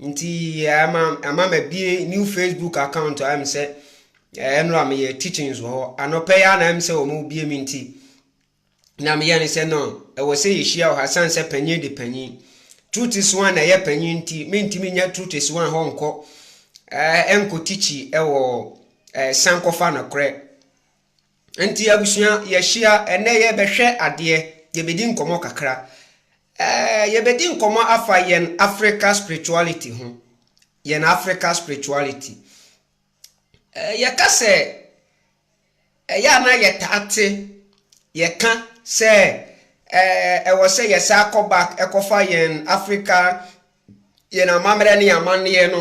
Nti ama ama mabie new Facebook account a ɛm sɛ ɛnora eh, meyɛ teachings wɔ hɔ. Anɔpɛ yɛ na ɛm sɛ wɔn bie mi nti na meyɛ ne sɛ no ɛwɔ sɛ yɛhyia wɔ ha san sɛ panyin de panyin. Trutis one na ɛyɛ panyin nti mentumi nyɛ trutis one hɔ nkɔ ɛnkɔ eh, tikyi ɛwɔ eh, san kɔfa nokorɛ. Nti abusua, yɛahyia. Ɛnnɛ yɛrebɛhwɛ adeɛ. Yɛbɛdi nkɔmmɔ kakra. Ɛɛ, yɛbɛdi nkɔmmɔ afa yɛn Africa spirituality ho. Yɛn Africa spirituality. Ɛɛ, yɛka sɛ, ɛyɛ a na yɛtaa te, yɛka sɛ, ɛɛ, ɛwɔ sɛ yɛsan kɔ back kɔfa yɛn Africa Yɛn amammerɛ ne yɛn amanneɛ no,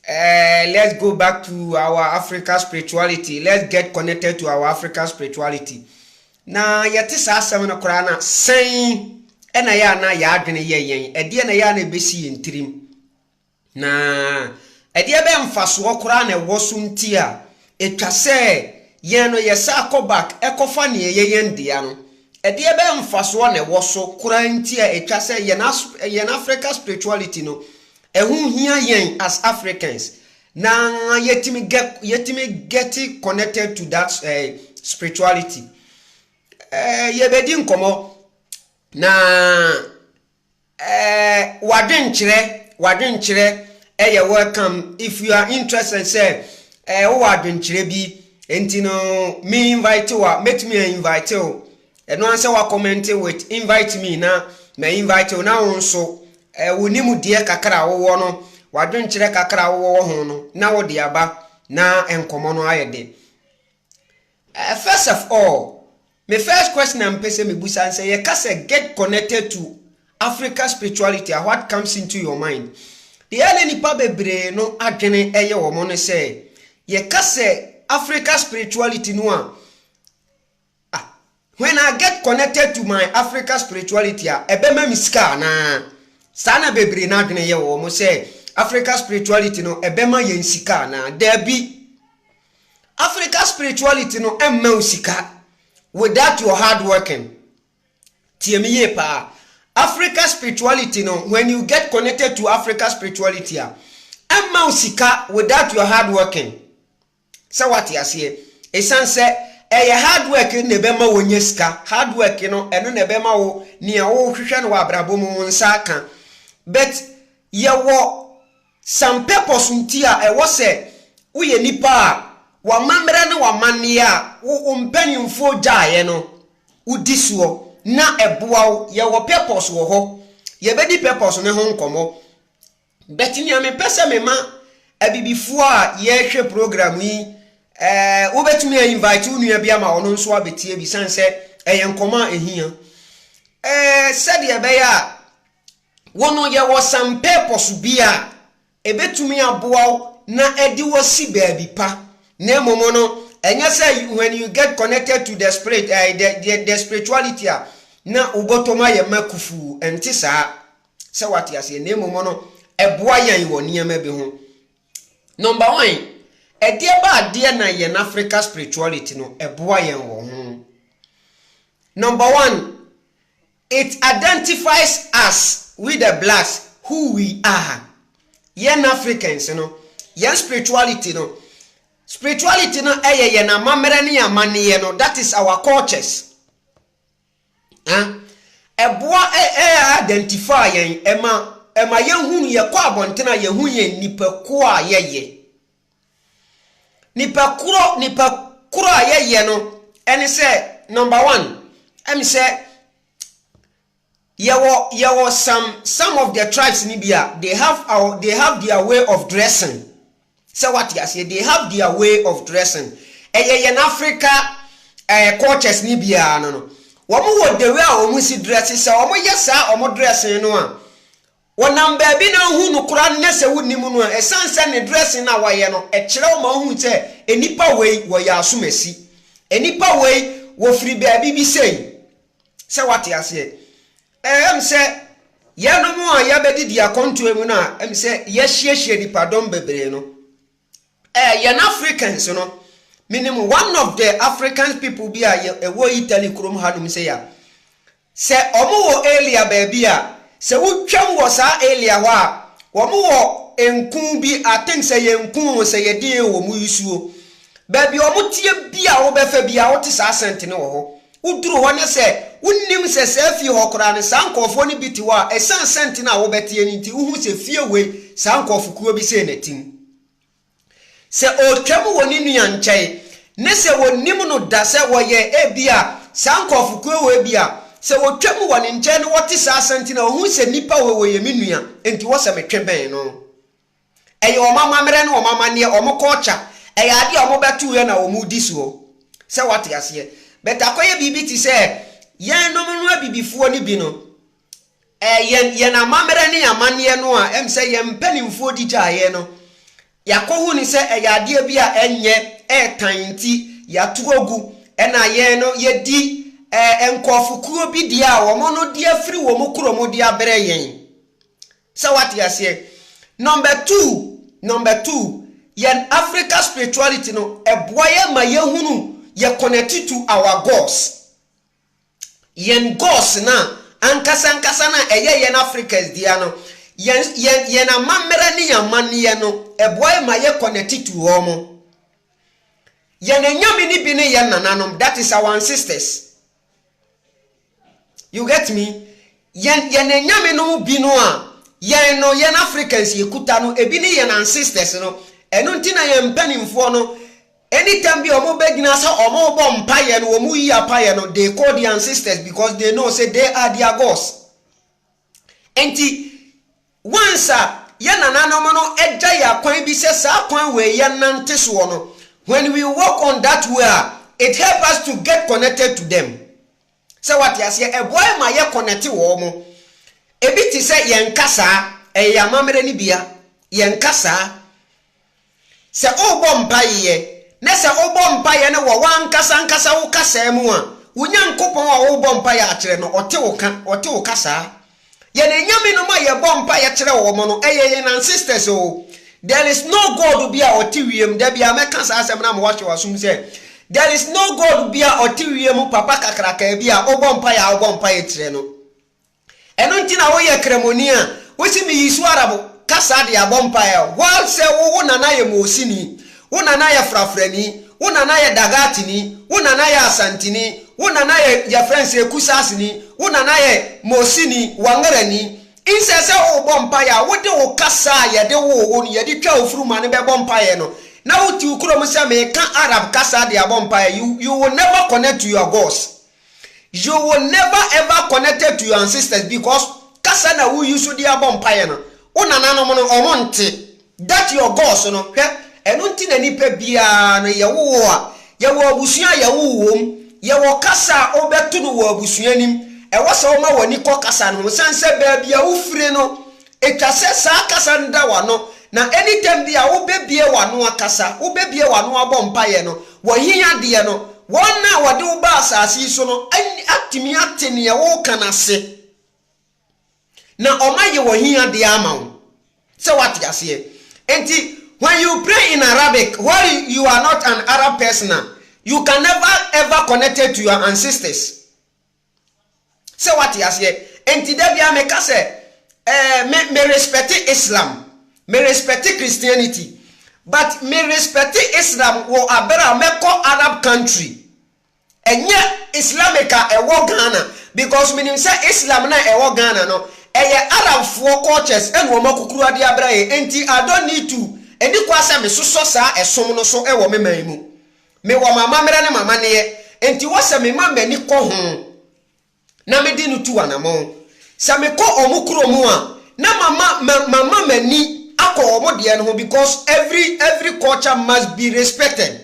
eh, let's go back to our Africa spirituality, let's get connected to our Africa spirituality. Na yɛte saa asɛm no koraa na sɛn ɛna yɛ a na yɛadwene yɛ yɛn, ɛdeɛ na yɛ a na ɛbɛsi yɛn tirim. Na ɛdeɛ bɛn mfasoɔ koraa na ɛwɔ so nti a Etwa sɛ yɛn no yɛsan kɔ back kɔfa nea ɛyɛ yɛn dea no. Ɛdeɛ bɛn mfasoɔ na ɛwɔ so koraa nti a ɛtwa sɛ yɛn as yɛn Africa spirituality no ɛho hia yɛn as Africans na yɛtumi gɛ yɛtumi get connected to that eh, spirituality? Eh, yɛbɛdi nkɔmmɔ na W'adwenkyerɛ, W'adwenkyerɛ yɛ welcome if you are interested sɛ wowɔ adwenkyerɛ bi nti no me invite wo a mɛtumi a invite wo ɛno ara sɛ woakɔmɛnte with invite me na ma invite wo na wo nso wo nimdeɛ kakra a wowɔ no w'adwenkyerɛ kakra a wowɔ wɔ ho no na wode aba na nkɔmmɔ no ayɛ de Eh first of all me first question a mpɛ sɛ mebusa nsɛ yɛ ka sɛ get connected to Africa spirituality a what comes into your mind deɛ ɛyɛ ne nipa bebree no adwene ɛyɛ wɔn ne sɛ yɛ ka sɛ Africa spirituality no a ah when I get connected to my Africa spirituality a ɛbɛ ma me sika anaa saa na bebree no adwene yɛ wɔn sɛ Africa spirituality no ɛbɛ ma yɛn sika anaa daabi Africa spirituality no mma wo sika without your hard working. Tie me yie paa. Africa spirituality no when you get connected to Africa spirituality a ɛmma wo sika without your hard working. Sɛ wate aseɛ. Ɛsiane sɛ ɛyɛ hard work na ɛbɛma wɔnya sika. Hard work no ɛno na ɛbɛma wo nea wohwehwɛ no wɔ abrabɔ mu wo nsa aka. But yɛwɔ San purpose nti a ɛwɔ sɛ woyɛ nipa a w'amammerɛ ne w'amanneɛ a wo wo mpaninfoɔ gyaeɛ no wo di soɔ na ɛboa wo yɛ wɔ purpose wɔ hɔ yɛ bɛ di purpose no ho nkɔmɔ but nea me pɛ sɛ me ma abibifoɔ a yɛ hwɛ program yi eh wo bɛ tumi a invite wo nua bi ama ɔno nso abɛtie bi san sɛ ɛyɛ nkɔmɔ a ɛhia eh sɛdeɛ ɛbɛyɛ a Wo no, yɛwɔ some purpose bi a ɛbɛtumi aboa wo na ɛde wo asi baabi pa. Na mmom no, ɛnyɛ sɛ when you get connected to the spirit, eh, the, the, the spirituality a, na wobɔtɔm ayɛ mma kufuu. Ɛnte saa. Sɛ wate aseɛ. Na mmom no, ɛboa yɛn wɔ nneɛma bi ho. Number one, ɛdeɛ ba adeɛ na yɛn Africa spirituality no, ɛboa yɛn wɔ ho. Number one, It identifies us with the blacks who we are Yɛn Africans no, yɛn spirituality no, spirituality no yɛ yɛn amammerɛ ne yɛn amanneɛ no, that is our cultures. Huh? Ɛboa ɛ ɛ identify yɛn, ɛma ɛma yɛhunu yɛkɔ abɔnten a yɛhu yɛn nnipakuo a yɛyɛ. Nipa korɔ nipa korɔ a yɛyɛ no ɛne sɛ number one ɛne sɛ yɛwɔ yɛwɔ some some of the tribes ni bi a they have our they have their way of dressing sɛ wate aseɛ they have their way of dressing ɛyɛ yɛn Africa ɛɛ eh, cultures ni biara no no wɔn wɔ the way a wɔn si dress sɛ wɔn yɛ saa wɔn dressing no a. Wɔnam baabi na wohu no koraa no na sɛ wonni mu no a, ɛsiane sɛ ne dressing no a wɔayɛ no, ɛkyerɛ wo ma wohu sɛ nnipa wei wɔyɛ asomasi. Nnipa wei wɔfiri baabi bi sei. Sɛ woate aseɛ? Ɛɛ, ɛm sɛ yɛnom a yɛabɛdidi akɔntoa mu no a ɛm sɛ yɛahyiahyia nnipadɔm bebree no, Eh yɛn Africans no menim one of the Africans people bi a ɛwɔ Italy kurom ha nom sei a sɛ ɔmo wɔ area baabi a sɛ wotwam wɔ saa area hɔ a ɔmo wɔ nku bi I think sɛ yɛ nku o sɛ yɛ deɛ o ɔmo yi suo baabi ɔmo teɛ bi a wobɛfa bi a wote saa scent no wɔ hɔ Woduru hɔ na sɛ wonnim sɛ saa fie hɔ koraa no, saa nkurɔfoɔ no bi te hɔ a, ɛsiane sɛnti no a wobɛteɛ no nti, wohu sɛ fie wei, saa nkurɔfokuo bi sei na ɛte mu. Sɛ ɔretwam wɔ ne nua nkyɛn, ne sɛ wɔnnim no da sɛ wɔyɛ ebia saa nkurɔfokuo wei bi a, sɛ wɔtwam wɔ ne nkyɛn na wɔte saa asɛnti no a, wɔhu sɛ nipa wei, ɔyɛ me nua, enti wɔ sɛ metwe bɛn no. Ɛyɛ wɔn amammerɛ ne wɔn amanneɛ, wɔn culture. Ɛyɛ adeɛ a wɔbɛtoeɛ na wɔdi soɔ. Sɛ woate aseɛ? But akɔyɛ biribi te sɛ yɛnnom no abibifoɔ no bi no, eh, yɛn, yɛn amammerɛ ne yɛn amanneɛ no a ɛm sɛ yɛn mpanimfoɔ di gyaeɛ no, yɛakɔhu no sɛ ɛyɛ adeɛ bi a ɛnyɛ, ɛretan nti yɛato agu, ɛna yɛn no yɛdi, eh, nkurɔfokuo bi deɛ a wɔn no de afiri wɔn kurom de abrɛ yɛn. Sɛ wate aseɛ? Number two, number two, yɛn Africa spirituality no, ɛboa yɛn ma yɛhunu, yɛ connect to our gods. Yɛn gods no a, ankasa ankasa no a ɛyɛ yɛn Africans dea no, yɛn, yɛn, yɛn amammerɛ ne yɛn amanneɛ no, ɛboa yɛn ma yɛ connect to wɔn. Yɛn anyame no bi ne yɛn nananom, that is our ancestors. You get me? Yɛn yɛn anyame no mu bi no a yɛn no yɛn Africans yɛkuta no ebi ne yɛn ancestors no. Ɛno nti na yɛn mpanimfoɔ no anytime bi a wɔn bɛgyina sɛ wɔn rebɔ mpaeɛ no wɔn yi apaeɛ no they call the ancestors because they know say they are their gods. Enti, once a yɛn nananom no agya yɛn akwan bi sɛ saa kwan wei yɛnnante soɔ no, when we walk on that way a, it help us to get connected to them. Sɛ wate aseɛ, ɛboa yɛn ma yɛ connect wɔn mo. Ebi te sɛ yɛn kasaa, ɛyɛ yɛn amammerɛ no bia, yɛn kasaa. Sɛ worebɔ mpaeɛ, na sɛ wobɔ mpaeɛ no wɔ w'ankasa ankasa wo kasaa mu a, wo Nyankopɔn a worebɔ mpaeɛ akyerɛ no, ɔte wo ka, ɔte wo kasaa. Yɛn anyame nom a yɛbɔ mpaeɛ kyerɛ wɔn no, ɛyɛ yɛn ancestors o. There is no God bi a ɔte wiem, da biara mɛka saa asɛm no ama woahyɛ w'asom sɛ, there is no God bi a ɔte wiem, papa kakrakaa bi a wobɔ mpaeɛ a wobɔ mpaeɛ kyerɛ no. Ɛno nti na woyɛ kramoni a wose miyi so ara bo ka saa de abɔ mpaeɛ while sɛ wo wo nana yɛ Moosini, wo nana yɛ Frafrani, wo nana yɛ Dagaatini, wo nana yɛ Asantini, wo nana yɛ yɛfrɛ no sɛ Kusaasini, wo nana yɛ Moosini, Wangarani. Nsɛ sɛ wobɔ mpaeɛ a wode wo kasa a yɛde woo wo no yɛde twaa wo funuma no bɛbɔ mpaeɛ no na wote wo kurom sɛ meka Arab kasa de abɔ mpaeɛ, you you will never connect to your gods. You will never ever connected to your ancestors because kasa na wo use de abɔ mpaeɛ no, wo nananom no wɔn nte. That your gods no, hwɛ, ɛno nti na nipa biara no yɛ wo wo a, yɛ wɔ abusua a yɛ wo wo wɔ mu, yɛ wɔ kasa a wo bɛ to no wɔ abusua anim, ɛwɔ sɛ wo ma w'ani kɔ kasa no ho, sɛn sɛ baabi a wo firi no Etwa sɛ saa kasa no da w'ano, na anytime bi a wobɛbue w'ano akasa, wobɛbue w'ano abɔ mpaeɛ no, w'ahiadeɛ no, wɔn a wɔde wo baa asase yi so no atumi ate neɛ woreka no ase, na wɔn ayɛ w'ahiadeɛ ama wo. Sɛ woate aseɛ? Enti when you pray in Arabic while you are not an Arab person a, you can never ever connected to your ancestors. Sɛ wate aseɛ? Enti da biara meka sɛ, eh, me, me respɛte Islam, me respɛte Christianity, but me respɛte Islam wɔ abere a mɛkɔ Arab country, ɛnyɛ Islamic a ɛwɔ Ghana, because menim sɛ Islam no a ɛwɔ Ghana no, ɛyɛ Arabfoɔ cultures ɛna wɔn akukuru ade abra yɛn, enti I don't need to, ɛni kwa sɛ mesosɔ saa ɛsom no so wɔ me man mu. Mewɔ m'amammerɛ ne m'amanneɛ, enti wɔ sɛ mema m'ani kɔ ho na mede no tu anammɔn. Sɛ mekɔ wɔn kuro mu a, na mama ma mama m'ani akɔ wɔn deɛ no ho because every every culture must be respected.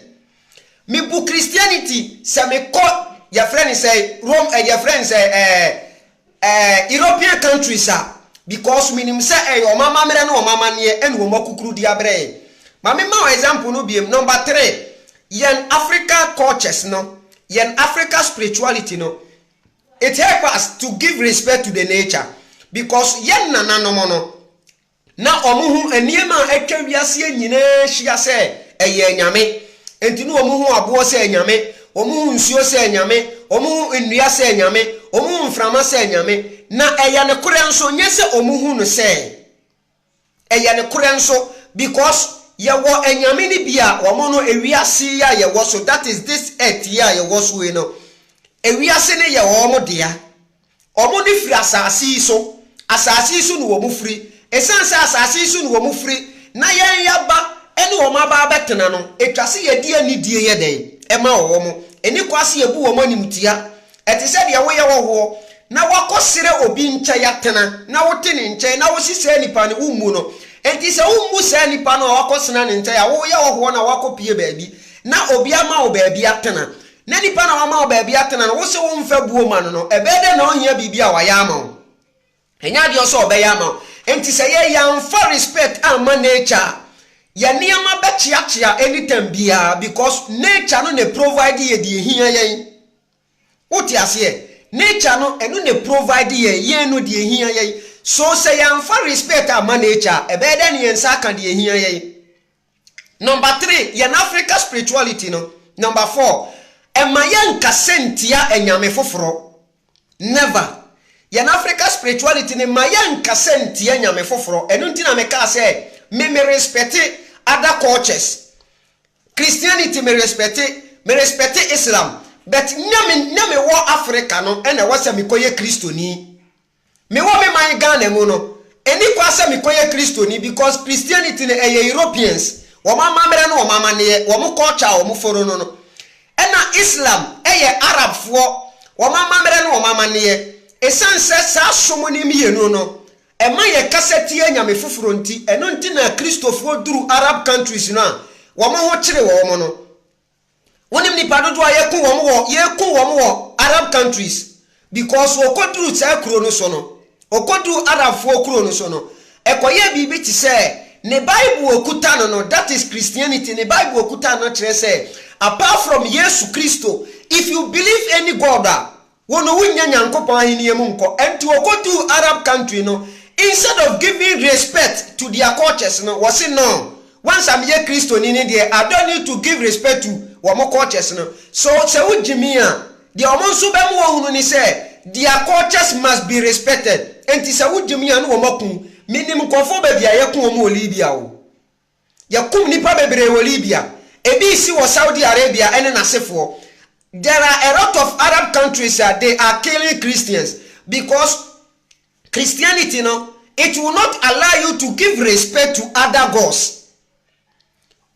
Mebu Christianity sɛ mekɔ yɛfrɛ no sɛn Rome eh, yɛfrɛ no sɛ eh, Eh, European countries a, because menim sɛ ɛyɛ wɔn amammerɛ ne wɔn amanneɛ ɛne wɔn akokurudi abrɛ yɛn. Ma me ma wo example no biom, number three, yɛn Africa cultures no, yɛn Africa spirituality no, it help us to give respect to the nature because yɛn nananom no, Na wɔn ho nneɛma a atwa wiase yi nyinaa hyia sɛ ɛyɛ anyame. Enti na wɔn ho aboɔ sɛ anyame, wɔn ho nsuo sɛ anyame, wɔn ho nnua sɛ anyame, wɔn ho mframa sɛ anyame. Na ɛyɛ nokorɛ nso, nyɛ sɛ wɔhu no sɛ ɛyɛ nokorɛ nso, because yɛwɔ anyame no bi a wɔn no ewiase yi a yɛwɔ so, that is this earth yi a yɛwɔ so yi no, ewiase no yɛ wɔn dea. Wɔde firi asase yi so. Asase yi so na wɔfiri. Ɛsiane sɛ asase yi so na wɔfiri na yɛn yɛaba ne wɔn aba abɛtena no, ɛtwa sɛ yɛde anidie yɛ dɛn? Ɛma wɔ wɔn. Ɛnni kwa sɛ yɛbu wɔn animtia. Ɛte sɛ deɛ woyɛ hɔhoɔ na woakɔsrɛ obi nkyɛn atena na wote ne nkyɛn na wose saa nipa no, wommu no. Enti sɛ wommu saa nipa no a woakɔsena ne nkyɛn a, woyɛ hɔhoɔ na woakɔpue baabi na obi ama wo baabi atena. na nipa na wama wo baabi atena no, wo se wo mfa buo ma no no, ɛbɛyɛ dɛn na ɔhia biribi a wayɛ ama wo? Ɛnyɛ adeɛ ɔsɛ ɔbɛyɛ ama wo. Enti sɛ yɛ yɛanfa respect amma nature a, yɛ nneɛma bɛkyeakyea anytime biara because nature no na ɛprovide yɛ deɛ ɛhia yɛn. Wote aseɛ? Nature no, ɛno na ɛprovide yɛn, yɛn no, deɛ ɛhia yɛn. So sɛ yɛanfa respect amma nature a, ɛbɛyɛ dɛn na yɛn nsa aka deɛ ɛhia yɛn? Number three, yɛn Africa spirituality no. Number four, ɛmma yɛnnkasa nntia anyame foforɔ. Never. Yɛn Africa spirituality no mma yɛnnkasa nntia anyame foforɔ. Ɛno nti na mekaa sɛ me me respɛte other cultures. Christianity me respɛte, me respɛte Islam, but nyɛ me nyɛ mewɔ Africa no na ɛwɔ sɛ mekɔyɛ Kristoni. Me wɔ me man Ghana mu no ɛni kwa sɛ me kɔ yɛ Kristoni because Christianity no ɛyɛ Europeans wɔn amamerɛ ne wɔn amaneɛ wɔn culture a wɔn foro no no ɛna Islam ɛyɛ Arab foɔ wɔn amamerɛ ne wɔn amaneɛ ɛsiane sɛ saa som no mmienu no ɛma yɛ kasa tia anyame foforɔ nti ɛno nti na Kristofoɔ duru Arab countries no a wɔn ho kyere wɔn no Wonim nipa dodoɔ a yɛku wɔn wɔ yɛku wɔn wɔ Arab countries because wɔkɔduru saa kuro no so no wɔkɔduru Arabfoɔ kuro no so no ɛkɔyɛɛ biribi te sɛ ne bible ɔkuta no no that is Christianity ne bible ɔkuta no kyerɛ sɛ apart from Yesu Kristo if you believe any God a Wo no wonnya Nyankopɔn ahenni mu nkɔ nti wɔkɔduu Arab country no instead of giving respect to their cultures no wɔse noo once a meyɛ Kristoni ne deɛ I don't need to give respect to wɔn cultures no so sɛ wo gye me a deɛ wɔn nso bɛ mo ɔhunu ne sɛ their cultures must be respected nti sɛ wo gye me a ne wɔn aku menim nkurɔfoɔ baabi a yɛko wɔn wɔ Libya o Yɛkum nnipa bebree wɔ Libya. Ebi resi wɔ Saudi Arabia ne n'asefoɔ. There are a lot of Arab countries a they are killing Christians because Christianity no it will not allow you to give respect to other gods.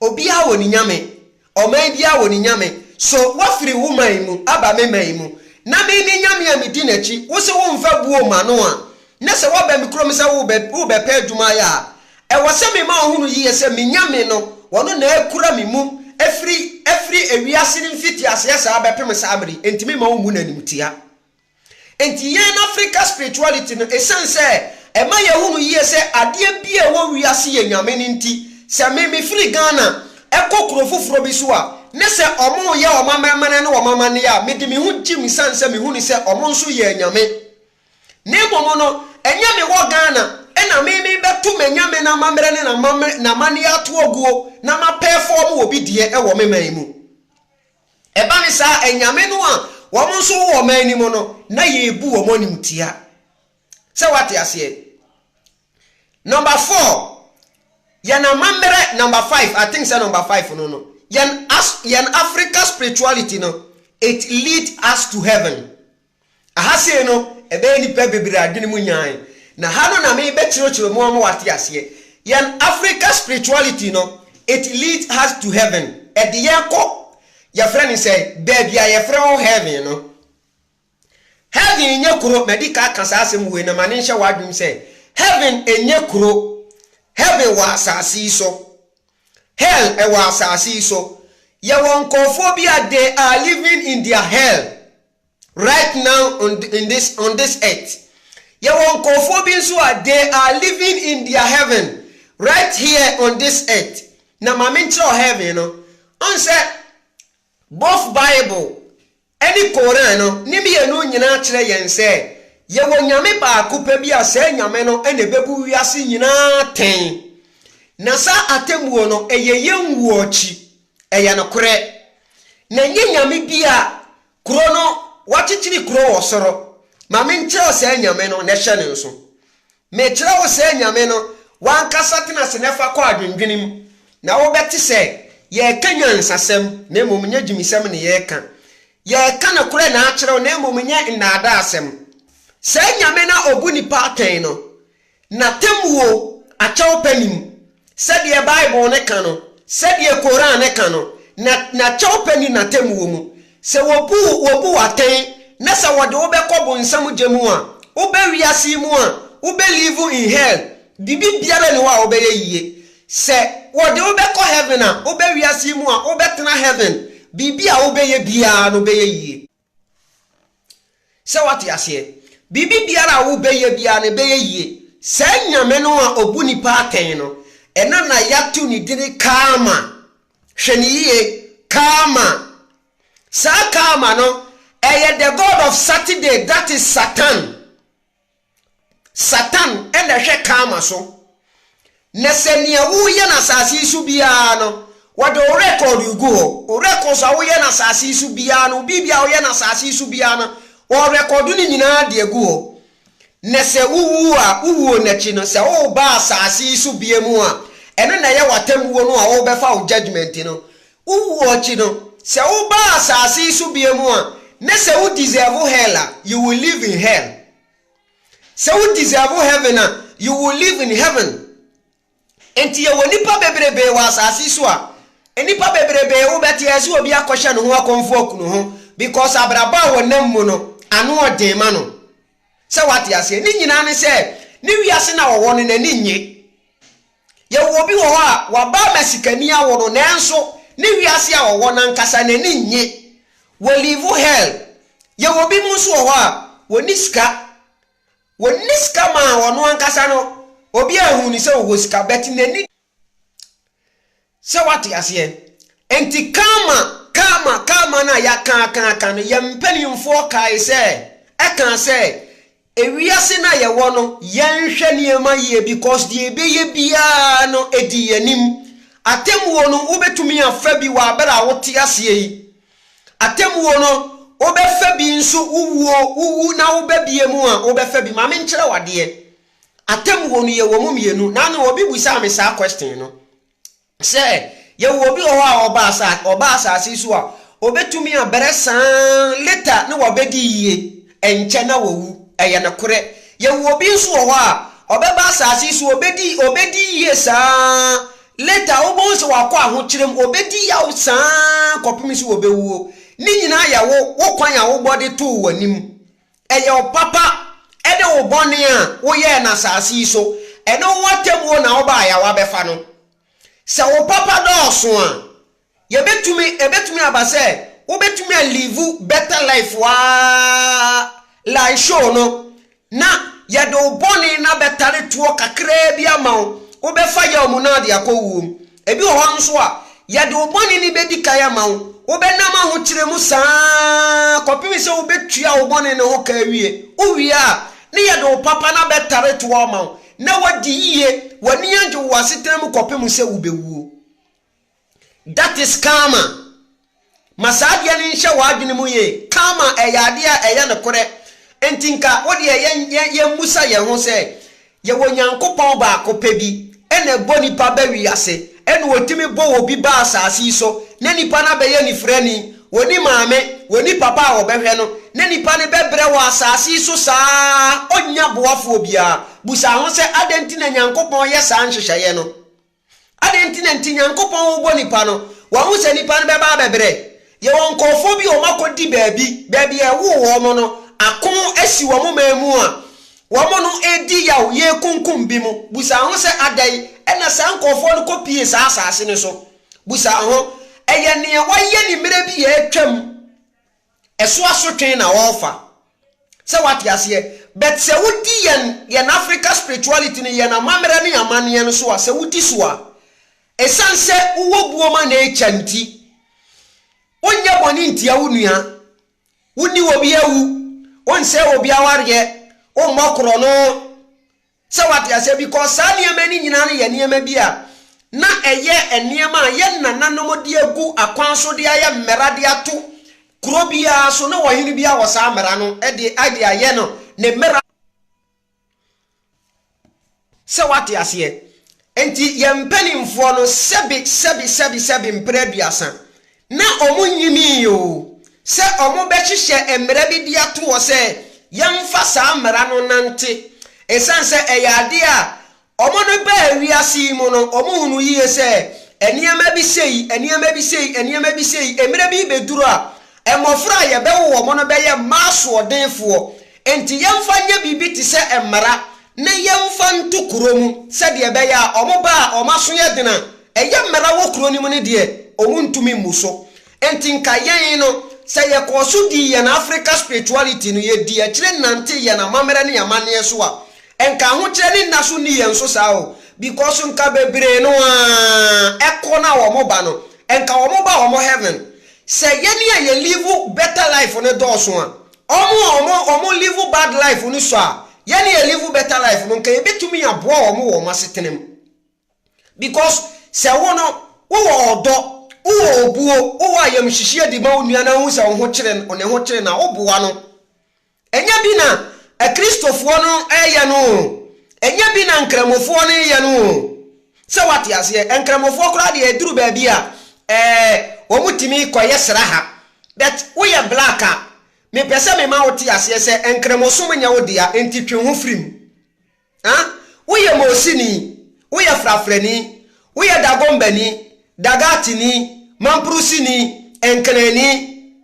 Obiara wɔ ne nyame. Ɔman biara wɔ ne nyame. So woafiri wo man mu aba me man mu, na me ne nyame a medi n'akyi? Wo se womfa buo mma no a, na sɛ woaba me kurom sɛ worebɛpɛ adwuma ayɛ a, ɛwɔ sɛ mema ɔhunu yiye sɛ me nyame no, ɔno na akura me mu afiri ewiase no mfitiaseɛ saa bɛpem saa mmere yi, enti meremma wommu no animtia. Enti yɛn Africa spirituality no, esiane sɛ ɛma yɛhu no yie sɛ adeɛ biara a ɛwɔ wiase yɛ nyame no nti, sɛ me mefiri Ghana kɔ kuro foforɔ bi so a, ne sɛ wɔreyɛ wɔn amanaman ne wɔn amanneɛ a, mede me ho gyem esiane sɛ mehu no sɛ wɔn nso yɛ anyame. Na mmom no, ɛnyɛ mewɔ Ghana na me merebɛto m'anyame no amammerɛ ne n'amanneɛ atoaguo na mapɛɛfɔɔmo obi deɛ wɔ me man mu. Ɛba no saa, anyame no a wɔn nso wowɔ wɔn anim no, na yɛbu wɔn animtia. Sɛ woate aseɛ? Number four, yɛn amammerɛ, number five, I think sɛ number five no no, yɛn, yɛn Africa spirituality no, it lead us to heaven. Aha sei no ɛbɛyɛ nnipa bebree adwene mu nyan, na ha no na me bɛ kyerekyere mo ama wate aseɛ. Yɛn Africa spirituality no it leads us to heaven, ɛde yɛn kɔ yɛfrɛ no sɛn, baabi a yɛfrɛ hɔ heaven no. Heaven nyɛ kuro, madi ka aka saa asɛm wei na ma ne nhyɛ w'adwene mu sɛ heaven nyɛ kuro, heaven wɔ asase yi so, hell ɛwɔ asase yi so. Yɛwɔ nkorɔfoɔ bi a they are living in their hell. Right now on in this on this earth. Yɛwɔ nkurɔfoɔ bi nso a they are living in their heaven right here on this earth. Na ma menkyerɛ wo heaven no. Ɔn sɛ both Bible ɛne Koran no ne mmienu nyinaa kyerɛ yɛn sɛ yɛwɔ Nyame baako pɛ bi a saa Nyame no na ɛbɛbu wiase nyinaa atɛn. Na saa atemmuo no ɛyɛ yɛn wuo akyi. Ɛyɛ nokorɛ. Na nyɛ nyame bi a, kuro no, wɔakyekyere kuro wɔ soro, ma menkyerɛ wo saa nyame no, na hyɛ no nso. Mekyerɛ wo saa nyame no, w'ankasa tena ase na fa kɔ adwendwene mu, na wobɛte sɛ yɛreka nyansasɛm, na mmom nyɛ gyimisɛm na yɛreka. Yɛreka nokorɛ na akyerɛ wo, na mmom nyɛ nnaadaasɛm. Saa nyame no a ɔbu nnipa atɛn no, N'atemmuo akyɛwpɛ nnim. Sɛdeɛ Bible no ka no, sɛdeɛ Koran no ka no, na N'akyɛwpɛ nni N'atemmuo mu. Sɛ wɔbu wo, wɔbu wo atɛn, na sɛ wɔde wo bɛkɔ bonsam gya mu a, woba wiase yi mu a, wobɛ live in hell. Biribiara nni hɔ a wobɛyɛ yie. Sɛ wɔde wo bɛkɔ heaven a, woba wiase yi mu a, wobɛtena heaven. Biribi a wobɛyɛ biara no, wobɛyɛ yie. Sɛ woate aseɛ? Biribi biara a wobɛyɛ biara no ɛbɛyɛ yie. Saa Nyame no a ɔbu nnipa atɛn no, ɛna na yɛato ne dini Karma. Hwɛ no yie, Karma. Saa Karma no, ɛyɛ the God of Saturday, that is Satan. Satan na ɛhwɛ Karma so. Na sɛ nea woreyɛ no asase yi so biara no, wɔde wo record regu hɔ. Wo records a woyɛ no asase yi so biara no, biribi a woyɛ no asase yi so biara no, wɔrekɔdo no nyinaa de agu hɔ. Na sɛ wowu a, wo wuo no akyi no, sɛ woreba asase yi so bia mu a, ɛno na ɛyɛ w'atemmuo no a worebɛfa wo judgement no. Wo wuo akyi no, sɛ wo ba asase yi so bio mu a, ne sɛ wo deserve hell a, you will live in hell. Sɛ wo deserve heaven a, you will live in heaven. Enti yɛ wɔ nipa bebrebee wɔ asase yi so a, nipa bebrebee wo bɛte ayɛ sɛ obi akɔhyɛ ne ho akɔmfo akunu ho because abrabɔ a wɔ nam mu no ano ɔden ma no. Sɛ wate aseɛ, ne nyinaa ne sɛ ne wiase no a ɔwɔ no n'ani nnye. Yɛwɔ obi wɔ hɔ a, waba ama sikani awo no nanso ne wiase a ɔwɔ no ankasa no ani nnye. Wɔliivu hell. Yɛwɔ binom nso wɔ hɔ a, wɔnni sika. Wɔnni sika ma ɔno ankasa no, obiara nhu no sɛ ɔwɔ sika but n'ani. Sɛ wate aseɛ? Enti karma, karma, karma no a yɛaka aka aka no, yɛn mpanimfoɔ kae sɛ, ɛkaa sɛ, Ewiase no a yɛwɔ no, yɛnhwɛ nneɛma yie because deɛ ɛbɛyɛ biara no, ɛdi yɛn anim. Atemmuo no, wobɛtumi afa bi wɔ abere a wote aseɛ yi. Atemmuo no, wobɛfa bi nso, wowuo, wowu na woba bie mu a, wobɛfa bi. Ma menkyerɛ wo adeɛ. Atemmuo no yɛwɔ mu mmienu nano obi bisaa me saa question no sɛ yɛwɔ obi wɔ hɔ a ɔba asa ɔba asase so a obetumi abrɛ saa later na wabɛdi yie ɛnkyɛ na wawu ɛyɛ nokorɛ yɛwɔ obi nso wɔ hɔ a ɔbɛba asase so obɛdi obɛdi yie saa later wobɛhu sɛ wakɔ ahokyerɛ mu obɛdi yaw saa kɔpem sɛ obɛwuo ne nyinaa yɛwo wo kwan a wobɔ de too w'anim Ɛyɛ wo papa ne wo bɔne a woyɛɛ no asase yi so, ɛne wo atemmuo na wobaeɛ a woabɛfa no. Sɛ wo papa dɔɔso a, yɛbɛtumi, ɛbɛtumi aba sɛ wobɛtumi a live better life woaa lie show no, na yɛde wo bɔne no abɛtare toɔ kakraa bi ama wo, wobɛfa yaw mu na wode akɔ wuo mu. Ebi wɔ hɔ nso a, yɛde wo bɔne no bedi kan ama wo. Wobɛnam ahokyere mu saa ara kɔpem sɛ wubetua wo bɔne no ho ka awie. Wuwie a, na yɛde wo papa no abɛtare toa ama wo, na woadi yiye, w'ani agye wo wɔ asetena mu kɔpem sɛ wubewuo. That is Karma. Ma saa adeɛ no nhyɛ w'adwene mu yie, Karma ɛyɛ adeɛ a ɛyɛ nokorɛ, enti nka wo deɛ yɛ yɛ yɛmmisa yɛn ho sɛ, Yɛwɔ Nyankopɔn baako pɛ bi na ɛbɔ nipa ba wiase, ɛna ɔtumi bɔ obi ba asaase yi so na nipa no abɛyɛ anifirani, ɔnni maame, ɔnni papa a ɔbɛhwɛ no, na nipa no bɛbrɛ wɔ asaase yi so saa ara, ɔnnya boafoɔ biara? Bisa ho sɛ, Adɛn nti na Nyankopɔn yɛ saa nhyehyɛeɛ no? Adɛn nti na enti Nyankopɔn wobɔ nnipa no? Wahu sɛ nnipa no bɛba abɛbrɛ. Yɛwɔ nkorɔfoɔ bi a wɔn akɔdi baabi, baabi a ɛwoo wɔn no, ako asi wɔn man mu a, wɔn no redi yaw, yɛrekunkum bi mo. Busa ho sɛ, adɛn na saa nkorɔfoɔ no kɔpie saa asaase no so? Busa ho, ɛyɛ neɛ wɔayɛ ne mmerɛ bi a atwam? Ɛso asotwe na wɔrefa. Sɛ woate aseɛ. But sɛ wodi yɛn yɛn Africa spirituality no, yɛn amammerɛ ne yɛn amanneɛ no so a, sɛ wodi so a, ɛsiane sɛ wowɔ buo ma nature nti, wonyɛ bɔne ntia wo nua, wonni obi awu, wonsɛe obi awareɛ, wommɔ korɔno, Sɛ wate aseɛ, because saa nneɛma no nyinaa no yɛ nneɛma bi a na ɛyɛ nneɛma a yɛn nananom de agu akwan so de ayɛ mmara de ato kuro biara so, na ɔhene biara wɔ saa mmara no de de ayɛ no ne mmara. Sɛ wate aseɛ, Enti yɛn mpanimfoɔ no sɛbe sɛbe sɛbe sɛbe mprɛ aduasa, na wɔnnyimii oo, sɛ wɔbɛhyehyɛ mmara bi de ato hɔ sɛ yɛmfa saa mmara no nnante. Ɛsiane sɛ ɛyɛ adeɛ a wɔn no baa wiase yi mu no, wɔhunuu yie sɛ nneɛma bi sei, nneɛma bi sei, nneɛma bi sei, mmerɛ bi rebɛduru a, mmɔfra a yɛbɛwo wɔn no bɛyɛ mmaa asoɔdenfoɔ, Enti yɛmfa nyɛ biribi te sɛ mmara na yɛmfa nto kuro mu sɛdeɛ ɛbɛyɛ a wɔn ba a wɔn aso yɛ den a ɛyɛ mmara wɔ kuro no mu no deɛ, wɔntumi mmu so. Enti nka yɛn no, sɛ yɛkɔɔ so dii yɛn Afrika spirituality no, yɛdii akyire nantee yɛn amammerɛ ne amanneɛ so a, nka ahokyerɛ ne nna so nni yɛn so saa o. Because nka bebree no ara kɔ na wɔn ba no, nka wɔn ba wɔn heaven. Sɛ yɛn a yɛ live better life no dɔɔso a, Wɔn a wɔn wɔn live bad life no sɔ a, yɛn yɛ live better life no, nka yɛbɛtumi aboa wɔn wɔ wɔn asetena mu. Because sɛ wo no, wowɔ ɔdɔ, wowɔ obuo, wowɔ ayamhyehyeɛ de ma wo nua na wohu sɛ wo ho kyere no, ne ho kyere no a, woboa no. Ɛnyɛ bi na Akristofoɔ no reyɛ no o, ɛnyɛ bi na Nkramofoɔ no reyɛ no o, Sɛ woate aseɛ, Nkramofoɔ koraa deɛ ɛduru baabi a ɛɛ wɔn tumi kɔyɛ sraha. But woyɛ black a, mepɛ sɛ mema wo te aseɛ sɛ Nkramosom nyɛ wo dea nti twe wo ho firi mu. Huh? Woyɛ Moosini, woyɛ Frafrani, woyɛ Dagombani, Dagatini, Mampruhsini, Nknaani,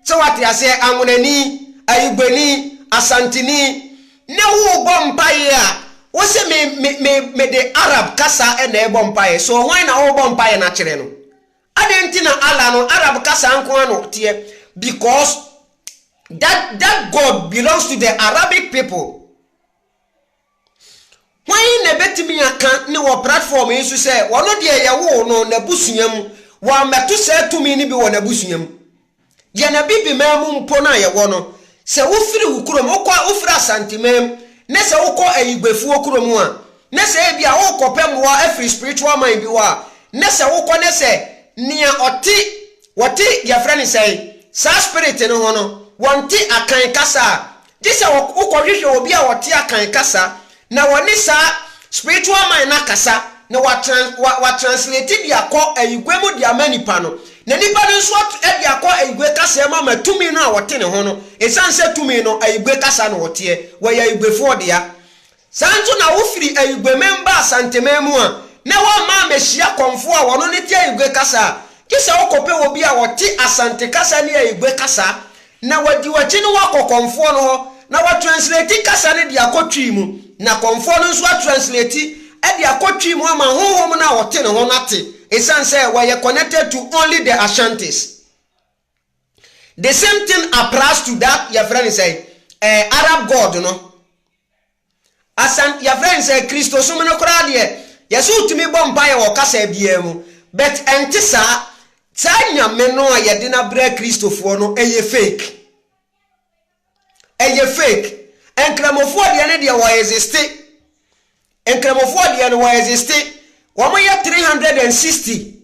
sɛ woate aseɛ, Anwonani, Ayugbani, Asanteni, na worebɔ mpaeɛ a, wose me, me, me, mede Arab kasa na ɛrebɔ mpaeɛ. So hwan na worebɔ mpaeɛ no akyerɛ no? Adɛn nti na Allah no, Arab kasa nko ara na ɔteɛ? Because that, that God belongs to the Arabic people. Hwan na ebetumi aka ne wɔ platform yi so sɛ ɔno deɛ yɛwoo no n'abusua mu, wammɛto saa tumi no bi wɔ n'abusua mu? Yɛn Abibiman mu mpo no a yɛwɔ no, sɛ wofiri wo kurom, wokɔ, wofiri Asanteman mu, na sɛ wokɔ Ayigbefoɔ kurom a, na sɛ ebi a worekɔpɛ mmoa afiri spiritual man bi hɔ a, na sɛ wokɔ na sɛ nea ɔte, wɔte, yɛfrɛ no sɛn, saa spirit no ho no, wɔnte Akan kasa a, Gye sɛ wokɔhwehwɛ obi a ɔte Akan kasa na wɔne saa spiritual man no akasa na watranslate de akɔ Igwe mu de ama nipa no, na nipa no nso de akɔ Igwe kasaa mu ama tumi no a wɔte ne ho no, esiane sɛ tumi no, Igwe kasa na wɔteɛ, wɔyɛ Igwefoɔ dea. Saa nso na wofiri Ayugueman baa Santeman mu a, na wɔmma ammehyia kɔmfoɔ a wɔno ne te Ayugue kasa a, gye sɛ wokɔpɛ obi a ɔte Asante kasa ne Ayugue kasa na wadi w'akyi ne wo akɔ kɔmfoɔ no hɔ na watranslati kasa no de akɔ Twi mu na kɔmfoɔ no nso atranslati de akɔ Twi mu ama honhom no a ɔte ne ho no ate, esiane sɛ wɔyɛ connected to only the Ashantis. The same thing applies to that yɛfrɛ no sɛ eh, Arab God no. Asan yɛfrɛ no sɛ Kristosom no koraa deɛ, yɛsɛ wotumi bɔ mpaeɛ wɔ kasa biara mu. But ɛnte saa. Saa Nyame no a yɛde no abrɛ Kristofoɔ no, ɛyɛ fake. ɛyɛ fake nkramofoɔ deɛ no deɛ wɔ existe nkramofoɔ deɛ no wɔ existe wɔn yɛ three hundred and sixty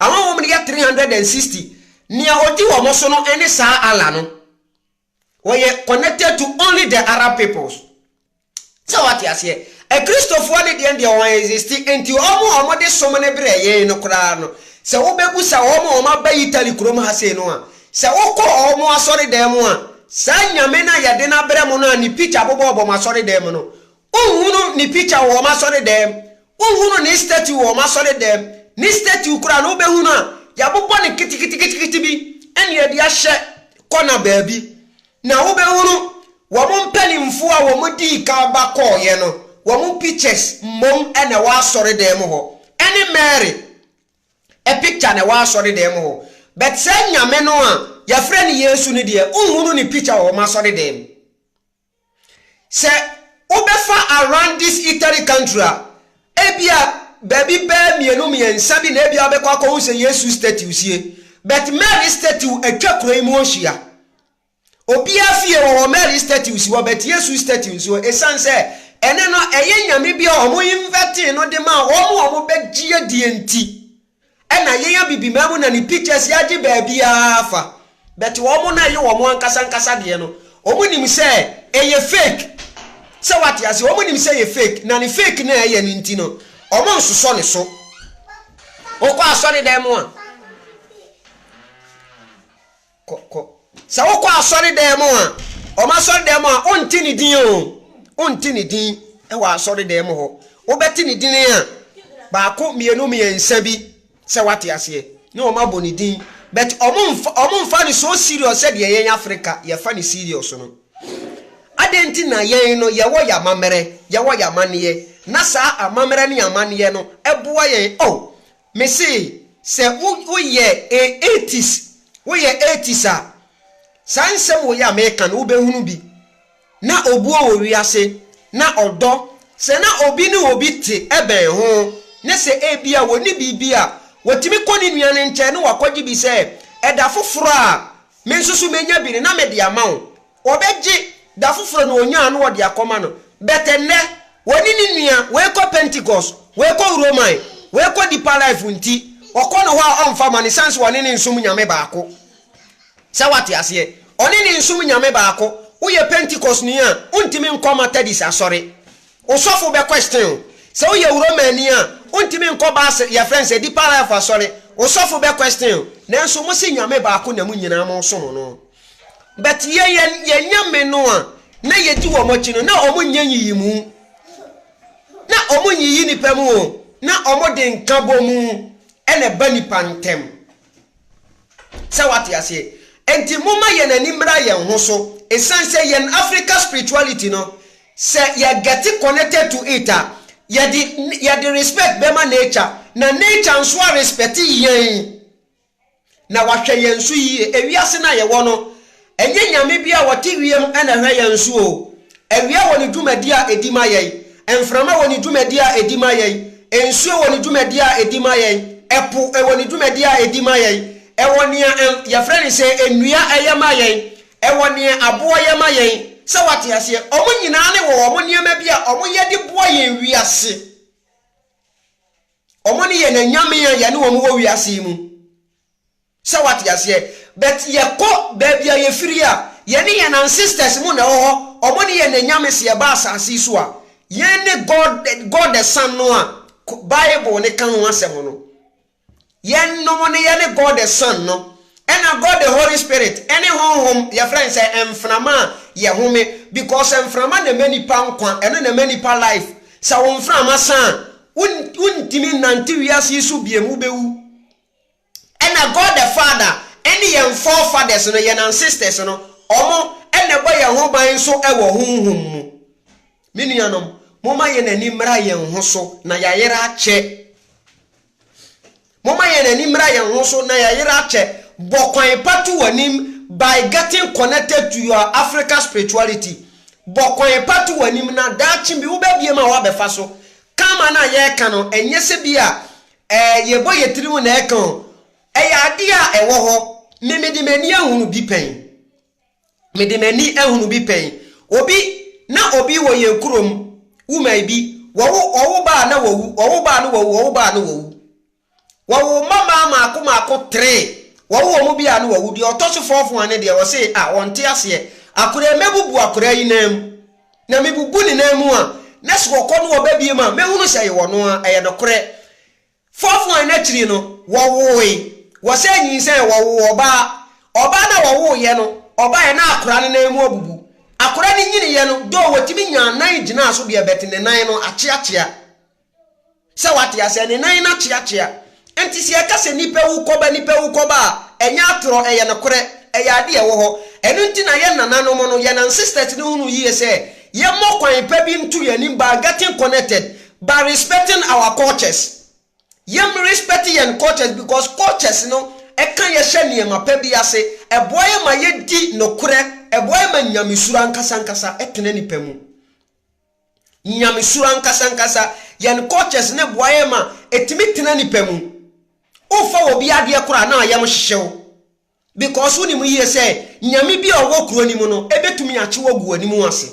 wɔn wɔn yɛ three hundred and sixty nea odi wɔn so no ɛne saa Allah no wɔyɛ connected to only the Arab peoples. Sɛ wate aseɛ? Akristofoɔ no deɛn deɛ wɔn existe nti wɔn a wɔn de som no brɛ yɛn no koraa no sɛ wo bɛ bu sa wɔn a wɔn aba Italy kurom ha sei no a sɛ wo kɔ wɔn asɔre dan mu a saa Nyame no a yɛde no abrɛ mo no a ne picture bobɔ bɔ mo asɔre dan mu no wo nhunu ne picture wɔ wɔn asɔre dan mu wo nhunu ne statue wɔ wɔn asɔre dan mu ne statue koraa no wo bɛ hunu a yɛabobɔ no keteketekete bi ɛne yɛde ahyɛ kɔna baabi Na wobɛhunu wɔn mpanimfoɔ a wɔdii kan ba kɔeɛ no, wɔn pictures mmom na ɛwɔ asɔredan mu hɔ, ɛne Mary picture na ɛwɔ asɔredan mu hɔ, but saa Nyame no a yɛfrɛ no Yesu no deɛ, wonhunu ne picture wɔ wɔn asɔredan mu. Sɛ wobɛfa around this Italy country a, ebia baabi bɛyɛ mmienu mmiɛnsa bi na ebia wobɛkɔ akɔhu sɛ Yesu statue sie, but Mary statue atwa kuro yi mu ahyia, Obiara fie wɔ hɔ, Mary statue si hɔ, but Yesu statue nsi hɔ. Ɛsiane sɛ ɛne no ɛyɛ nyame bi a wɔn invɛtee no de maa wɔn a wɔbɛgye adie nti, ɛna yɛn abibiman mu na ne pictures yɛagye baabiara afa. But wɔn no a ɛyɛ wɔn ankasa ankasa deɛ no, wɔn nim sɛ ɛyɛ fake. Sɛ wate ase, wɔn nim sɛ ɛyɛ fake, na ne fake no a ɛyɛ no nti no, wɔn nsosɔ ne so. Wokɔ asɔredan mu a. Kɔ, kɔ. Sɛ wokɔ asɔredan mu a, wɔn asɔredan mu a, wonte ne din o. Wonte ne din wɔ asɔredan mu hɔ. Wobɛte ne din a, baako, mmienu, mmiɛnsa bi, sɛ woate aseɛ, ne wɔn abɔ ne din. But wɔmfa no so serious sɛdeɛ yɛn Africa yɛfa no serious no. Adɛn nti na yɛn no yɛwɔ yɛn amammerɛ, yɛwɔ yɛn amanneɛ, na saa amammerɛ ne amanneɛ no boa yɛn? Oh, Me se sɛ wo wo yɛ a atheist wo yɛ atheist a saa nsɛm wei a meka no wo bɛ hunu bi na obuo wɔ wiase na ɔdɔ sɛ na obi ne obi te ɛbɛn ho ne sɛ ebia wɔ ne biribi a wɔ tumi kɔ ne nua no nkyɛn ne wakɔgye bi sɛ ɛda foforɔ a me nso so menya bi no na me de ama wo Wɔbɛgye da foforɔ na ɔnyaa na wɔde akɔma no. But ɛnnɛ, ɔne ne nua, wei kɔ Pentecost, wei kɔ Roman, wei kɔ Deeper Life nti, ɔkɔ no hɔ a ɔmfa mma no ɛsiane sɛ ɔne no nsom Nyame baako. Sɛ woate aseɛ? Ɔne no nsom Nyame baako. Woyɛ Pentecostni a, wontumi nkɔ Methodist asɔre. Wo sɔfo bɛ question wo. Sɛ wo yɛ Romani a, wo ntumi nkɔ Basel, yɛ frɛ no sɛ Deeper Life Asɔre. Wo sɔfo bɛ question wo. Nanso mo se Nyame baako na mo nyinaa mo som no. But yɛ yɛn yɛn Nyame no a na yɛ di wɔn akyi no, na wɔn nyɛ nyiyimu. Na wɔn nyiyi nipa mu o, na wɔn de nka bɔ mu ɛna ɛba nipa ntɛm. Sɛ wate aseɛ? Enti momma yɛn ani mmra yɛn ho so. Ɛsiane sɛ yɛn Africa spirituality no, sɛ yɛ gɛte connected to it a, yɛde yɛde respect bɛma nature, na nature nso a respect yɛn, na wahwɛ yɛn so yie. Ewiase no a yɛwɔ no, Ɛnyɛ nyame bi a ɔte wiem na ɛhwɛ yɛn so o. Awia wɔ ne dwumadi a ɛdi ma yɛn. Mframa wɔ ne dwumadi a ɛdi ma yɛn. Nsuo wɔ ne dwumadi a ɛdi ma yɛn. Ɛpo wɔ ne dwumadi a ɛdi ma yɛn. Ɛwɔ nea yɛfrɛ no sɛ nnua yɛ ma yɛn. Ɛwɔ nea aboɔ yɛ ma yɛn. Sɛ woate aseɛ? Wɔn nyinaa no wɔ wɔn nneɛma bi a wɔyɛ de boa yɛn wiase. Wɔn ne yɛn anyame a yɛne wɔn wɔ wiase yi mu. Sɛ wate aseɛ but yɛkɔ baabi a yɛfiri a yɛne yɛn ancestors mo na ɛwɔ hɔ ɔmo ne yɛn na anyame sɛ yɛba asaase yi so a yɛn ne God God the sun no a bible no ka ho asɛm no yɛn nom no yɛne God the sun no ɛna God the holy spirit ɛne honhom yɛfrɛ no sɛ mframa a yɛhome because mframa na ɛma nipa nkwa ɛno na ɛma nipa life sɛ wo mframa sa a wontimi nnante wiase yi so biam wobɛwu Ɛna God the Father ɛne yɛn forefathers no, yɛn ancestors no, ɔmo ɛna ɛbɔ yɛn ho ban nso ɛwɔ honhom mu. Me nuanom, momma yɛn ani mmra yɛn ho so na yayera akyɛ. Momma yɛn ani mmra yɛn ho so na yayera akyɛ. Bɔ kwan pa to w'anim by getting connected to your Africa spirituality. Bɔ kwan pa to w'anim na daakye bi wobɛbie mu a woabɛfa so. Karma no a yɛreka no, ɛnyɛ sɛ bi a Eh, yɛbɔ yɛ tirim na ɛka o Ɛyɛ adeɛ a ɛwɔ hɔ Me mede m'ani ahunu bi pɛn Mede m'ani ahunu bi pɛn Obi, na obi wɔ yɛn kurom Woman bi, wɔwo wɔwo ba a na wawu Wɔwo ba a na wawu, wɔwo ba a na wawu Wɔwo mma maa maako maako three Wɔwo wɔn bi a na wawu Deɛ ɔtɔ so fourth one no deɛ ɔse ah ɔnte aseɛ Akoraa mɛbubu akoraa yi nan mu Na mebubu ne nan mu a, na sɛ wɔkɔ no wɔbɛbie mu a, mɛhunu sɛ yɛwɔ no ara, ɛyɛ nokorɛ. Fɔfoan no akyiri no, wɔwoe. Wɔsan nyinsɛn, wɔwoo ɔbaa. Ɔbaa no a wɔwoeɛ no, ɔbaeɛ na akora no nan mu abubu. Akora no nyiniiɛ no, doo wɔtumi nyaa nan gyinaa so deɛ, but ne nan no akyeakyea. Sɛ wate aseɛ, ne nan no akyeakyea. Nti sɛ yɛka sɛ nipa wu kɔba nipa wu kɔba a, ɛnyɛ atorɔ, ɛyɛ nokorɛ, ɛyɛ adeɛ a ɛwɔ hɔ. Ɛno nti na yɛn nananom no, yɛn ancestors no hunuu yie sɛ yɛmmɔ kwan pa bi nto yɛn anim by getting connected, by respecting our cultures. Yɛm respect yɛn cultures because cultures no ɛka yɛn hyɛ nneɛma pa bi ase, ɛboa yɛn ma yɛdi nokorɛ, ɛboa yɛn ma nyamesuro ankasa ankasa tena nipa mu. Nyamesuro ankasa ankasa. Yɛn cultures no boa yɛn ma ɛtumi tena nipa mu. Wofa wɔ bi adeɛ koraa na ayam hyehye wo because wonim yie sɛ Nyame bi a ɔwɔ kuro no mu no ɛbɛtumi akye wo agu w'anim ase.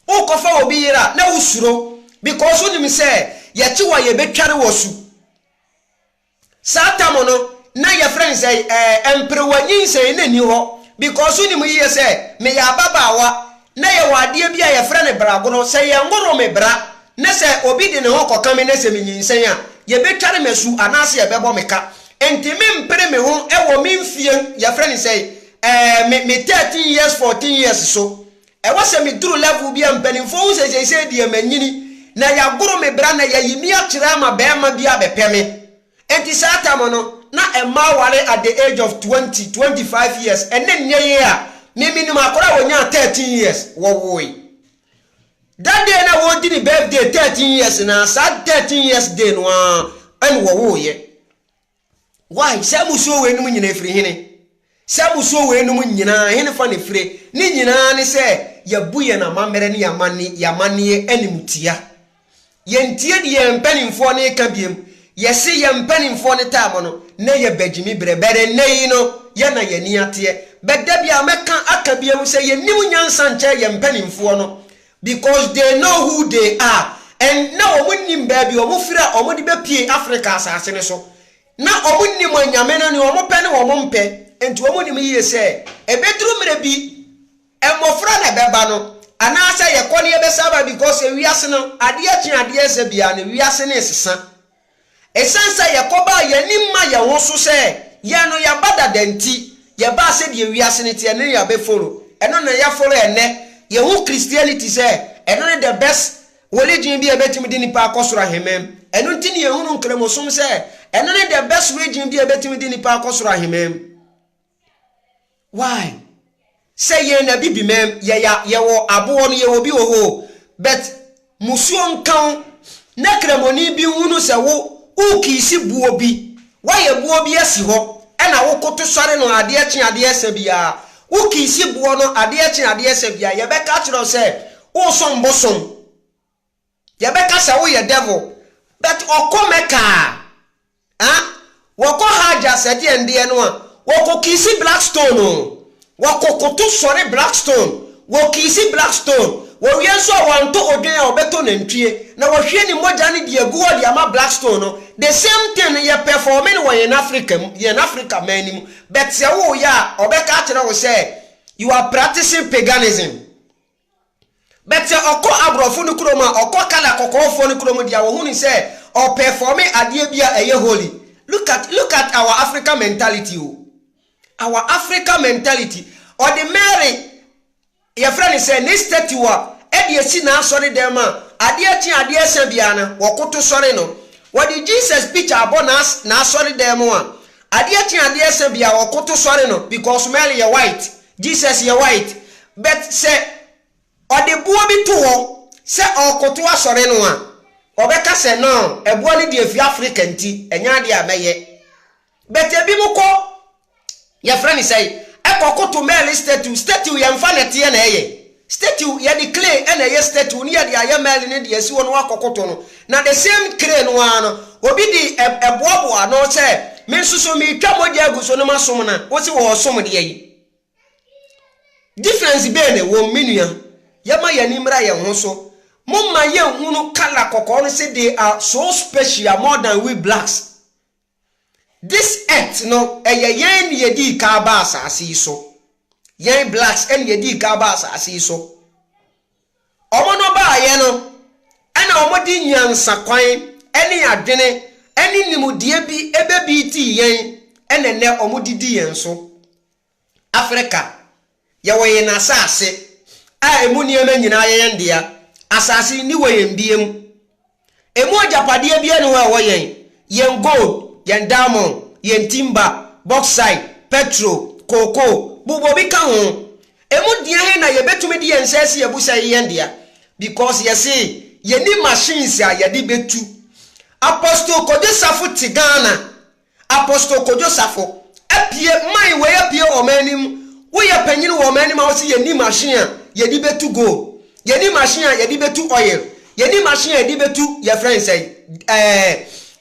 Wokɔfa wɔ bi yere a na wosuro because wonim sɛ yɛkye wo a yɛbɛtware wo asu. Saa tam no na yɛfrɛ no sɛn? Ɛɛ, mperewa nyinsɛn na ɛnni hɔ because wonim yiye sɛ meyɛ ababaawa na yɛwɔ adeɛ bi a yɛfrɛ no bragorɔ, sɛ yɛnworo me bra na sɛ obi de ne ho kɔka me na sɛ menyinsɛn a, yɛbɛtware me asu anaasɛ yɛbɛbɔ me ka. Enti mempere me ho wɔ me mfeɛ, yɛfrɛ no sɛn? Ɛɛ, me 13 years, 14 years so. Ɛwɔ sɛ me duru level bi a mpaninfoɔ hu sɛ seisei deɛ manyini na yagoro me bra na yayi me akyerɛ ama barima bi abɛpɛ me. Enti saa time no na mmaa ware at the age of twenty, twenty five years ɛne nnɛ yi a me menim akora a ɔnyaa thirteen years wɔwoe da day na wɔredi ne birthday thirteen years no ara saa thirteen years day no ara ɛne wɔwoeɛ. Why? Saa mmusuo wei nom nyinaa firi hene? Saa mmusuo wei nom nyinaa hene fa ne fire? Ne nyinaa ne sɛ yɛbu yɛn amammerɛ ne yɛn amanneɛ animtia. Yɛntie deɛ yɛn mpanimfoɔ no reka biom. Yɛse yɛn mpanimfoɔ no taa mɔ no, na yɛ bɛ gyimi berɛ. But ɛnnɛ yi no, yɛ na yɛn ani ateɛ. But da biara mɛka aka biom sɛ yɛnnim nyansa nkyɛn yɛn mpanimfoɔ no. Because they know who they are and na wɔn nnim baabi wɔn firi a wɔn de bɛ pue Africa asaase no so. Na wɔn nnim anyame no nea wɔn pɛ ne wɔn mpɛ nti wɔn nim yie sɛ ɛbɛ duru mmerɛ bi mmɔfra na ɛbɛ ba no anaa sɛ yɛ kɔ no yɛ bɛ sa ba because wiase no adeɛ kye adeɛ sa biara no wiase no resesa. Esiane sɛ yɛkɔbaa yɛn ani mma yɛn ho so sɛ yɛn no yɛaba dada nti, yɛbaa sɛdeɛ wiase no teɛ no ne yɛabɛfolo. Ɛno na yɛafolo ɛnnɛ. Yɛhu Christianity sɛ ɛno ne the best religion bi a ɛbɛtumi de nnipa akɔ soro ahemman. Ɛno nti na yɛhunu Nkramosom sɛ ɛno ne the best religion bi a ɛbɛtumi de nnipa akɔ soro ahemman. Why? Sɛ yɛn na bibi mɛm yɛya yɛwɔ aboɔ no yɛwɔ bi wɔ hɔ o but musuo nka wo na kramoni bi nhunu sɛ wo wo kiisi boɔ bi wayɛ boɔ bi asi hɔ ɛna wo koto sɔre no adeɛ kye adeɛ sa biaa wo kiisi boɔ no adeɛ kye adeɛ sa biaa yɛbɛka akyerɛ wo sɛ wosom bosom yɛbɛka sɛ woyɛ devil but ɔkɔ mecca a ah wɔkɔ hajj a sɛdeɛ ndeɛ no a wɔkɔ kiisi black stone oo wɔkɔ koto sɔre black stone wɔ kiisi black stone wɔwie nso a wantɔ odwen a ɔbɛtɔ nantwie na wahwie ne mogya no de agu hɔ de ama black stone no the same thing no yɛ performe no wɔ yɛn Africa mu yɛn Africa man no mu but sɛ woyɛ a ɔbɛka akyerɛ wo sɛ you are practicing paganism. But sɛ ɔkɔ abrɔfo no kurom a ɔkɔ colour kɔkɔɔfoɔ no kurom deɛ a wɔhu no sɛ ɔ performe adeɛ bi a ɛyɛ holy. Look at look at our African mentality o. Our African mentality. Ɔde Mary yɛfrɛ no sɛ ne statue a ɛde asi n'asɔre dɛm a adeɛ kye adeɛ sa biara no wɔkoto sɔre no. Wɔde Jesus picture abɔ n'as n'asɔre dan mu a adeɛ kye adeɛ sa biara wɔkoto sɔre no because Mary yɛ white. Jesus yɛ white but sɛ ɔde boɔ bi to hɔ sɛ ɔɔkoto asɔre no a ɔbɛka sɛ no ɛboɔ no deɛ ɛfiri Africa nti ɛnyɛ adeɛ a mɛyɛ but ɛbinom kɔ yɛfrɛ no sɛn ɛkɔ koto male statue, statue yɛnfa nɛteɛ na ɛyɛ Statue, Yɛde clay na ɛyɛ statue no, yɛde ayɛ mɛɛle no de asi hɔ na wɔakɔkoto no. Na the same clay no ara no, obi de boaboa ano sɛ, Me nso so meretwa mogya agu so na masom no a, wose wɔresom deɛ yi? Difference bɛn na ɛwom, me nua? Yɛmma yɛn ani mmra yɛn ho so. Momma yɛnhunu colour kɔkɔɔ no sɛ they are so special more than we blacks. This earth no ɛyɛ yɛn na yɛdii kan aba asaase yi so. Yɛn blacks na yɛdii kan aba asaase yi so. Wɔn no baeɛ no ɛna wɔde nyansakwan ne adwene ne nimdeɛ bi bɛbiitii yɛn ɛna nnɛ wɔde di yɛn so. Afrika, yɛwɔ yɛn asase a emu nneɛma nyinaa yɛ yɛn dea. Asase yi, ne wɔ yɛn bia mu. Emu agyapadeɛ biara nni hɔ a ɛwɔ yɛn. Yɛn gold, yɛn diamond, yɛn timber, bauxite, petrol, cocoa, bobɔ bi ka ho. Emu dea he na yɛbɛtumi de yɛn nsa asi abu sɛ ɛyɛ yɛn dea? Because yɛse yɛnni machines a yɛde bɛtu. Apostle Kojo Safo te Ghana. Apostle Kojo Safo, Apue, Mae wei apue wɔ ɔman anim, woyɛ panyin wɔ ɔman anim a wose yɛnni machine a yɛde bɛtu gold, yɛnni machine a yɛde bɛtu oil, yɛnni machine a yɛde bɛtu yɛfrɛ no sɛn ɛɛ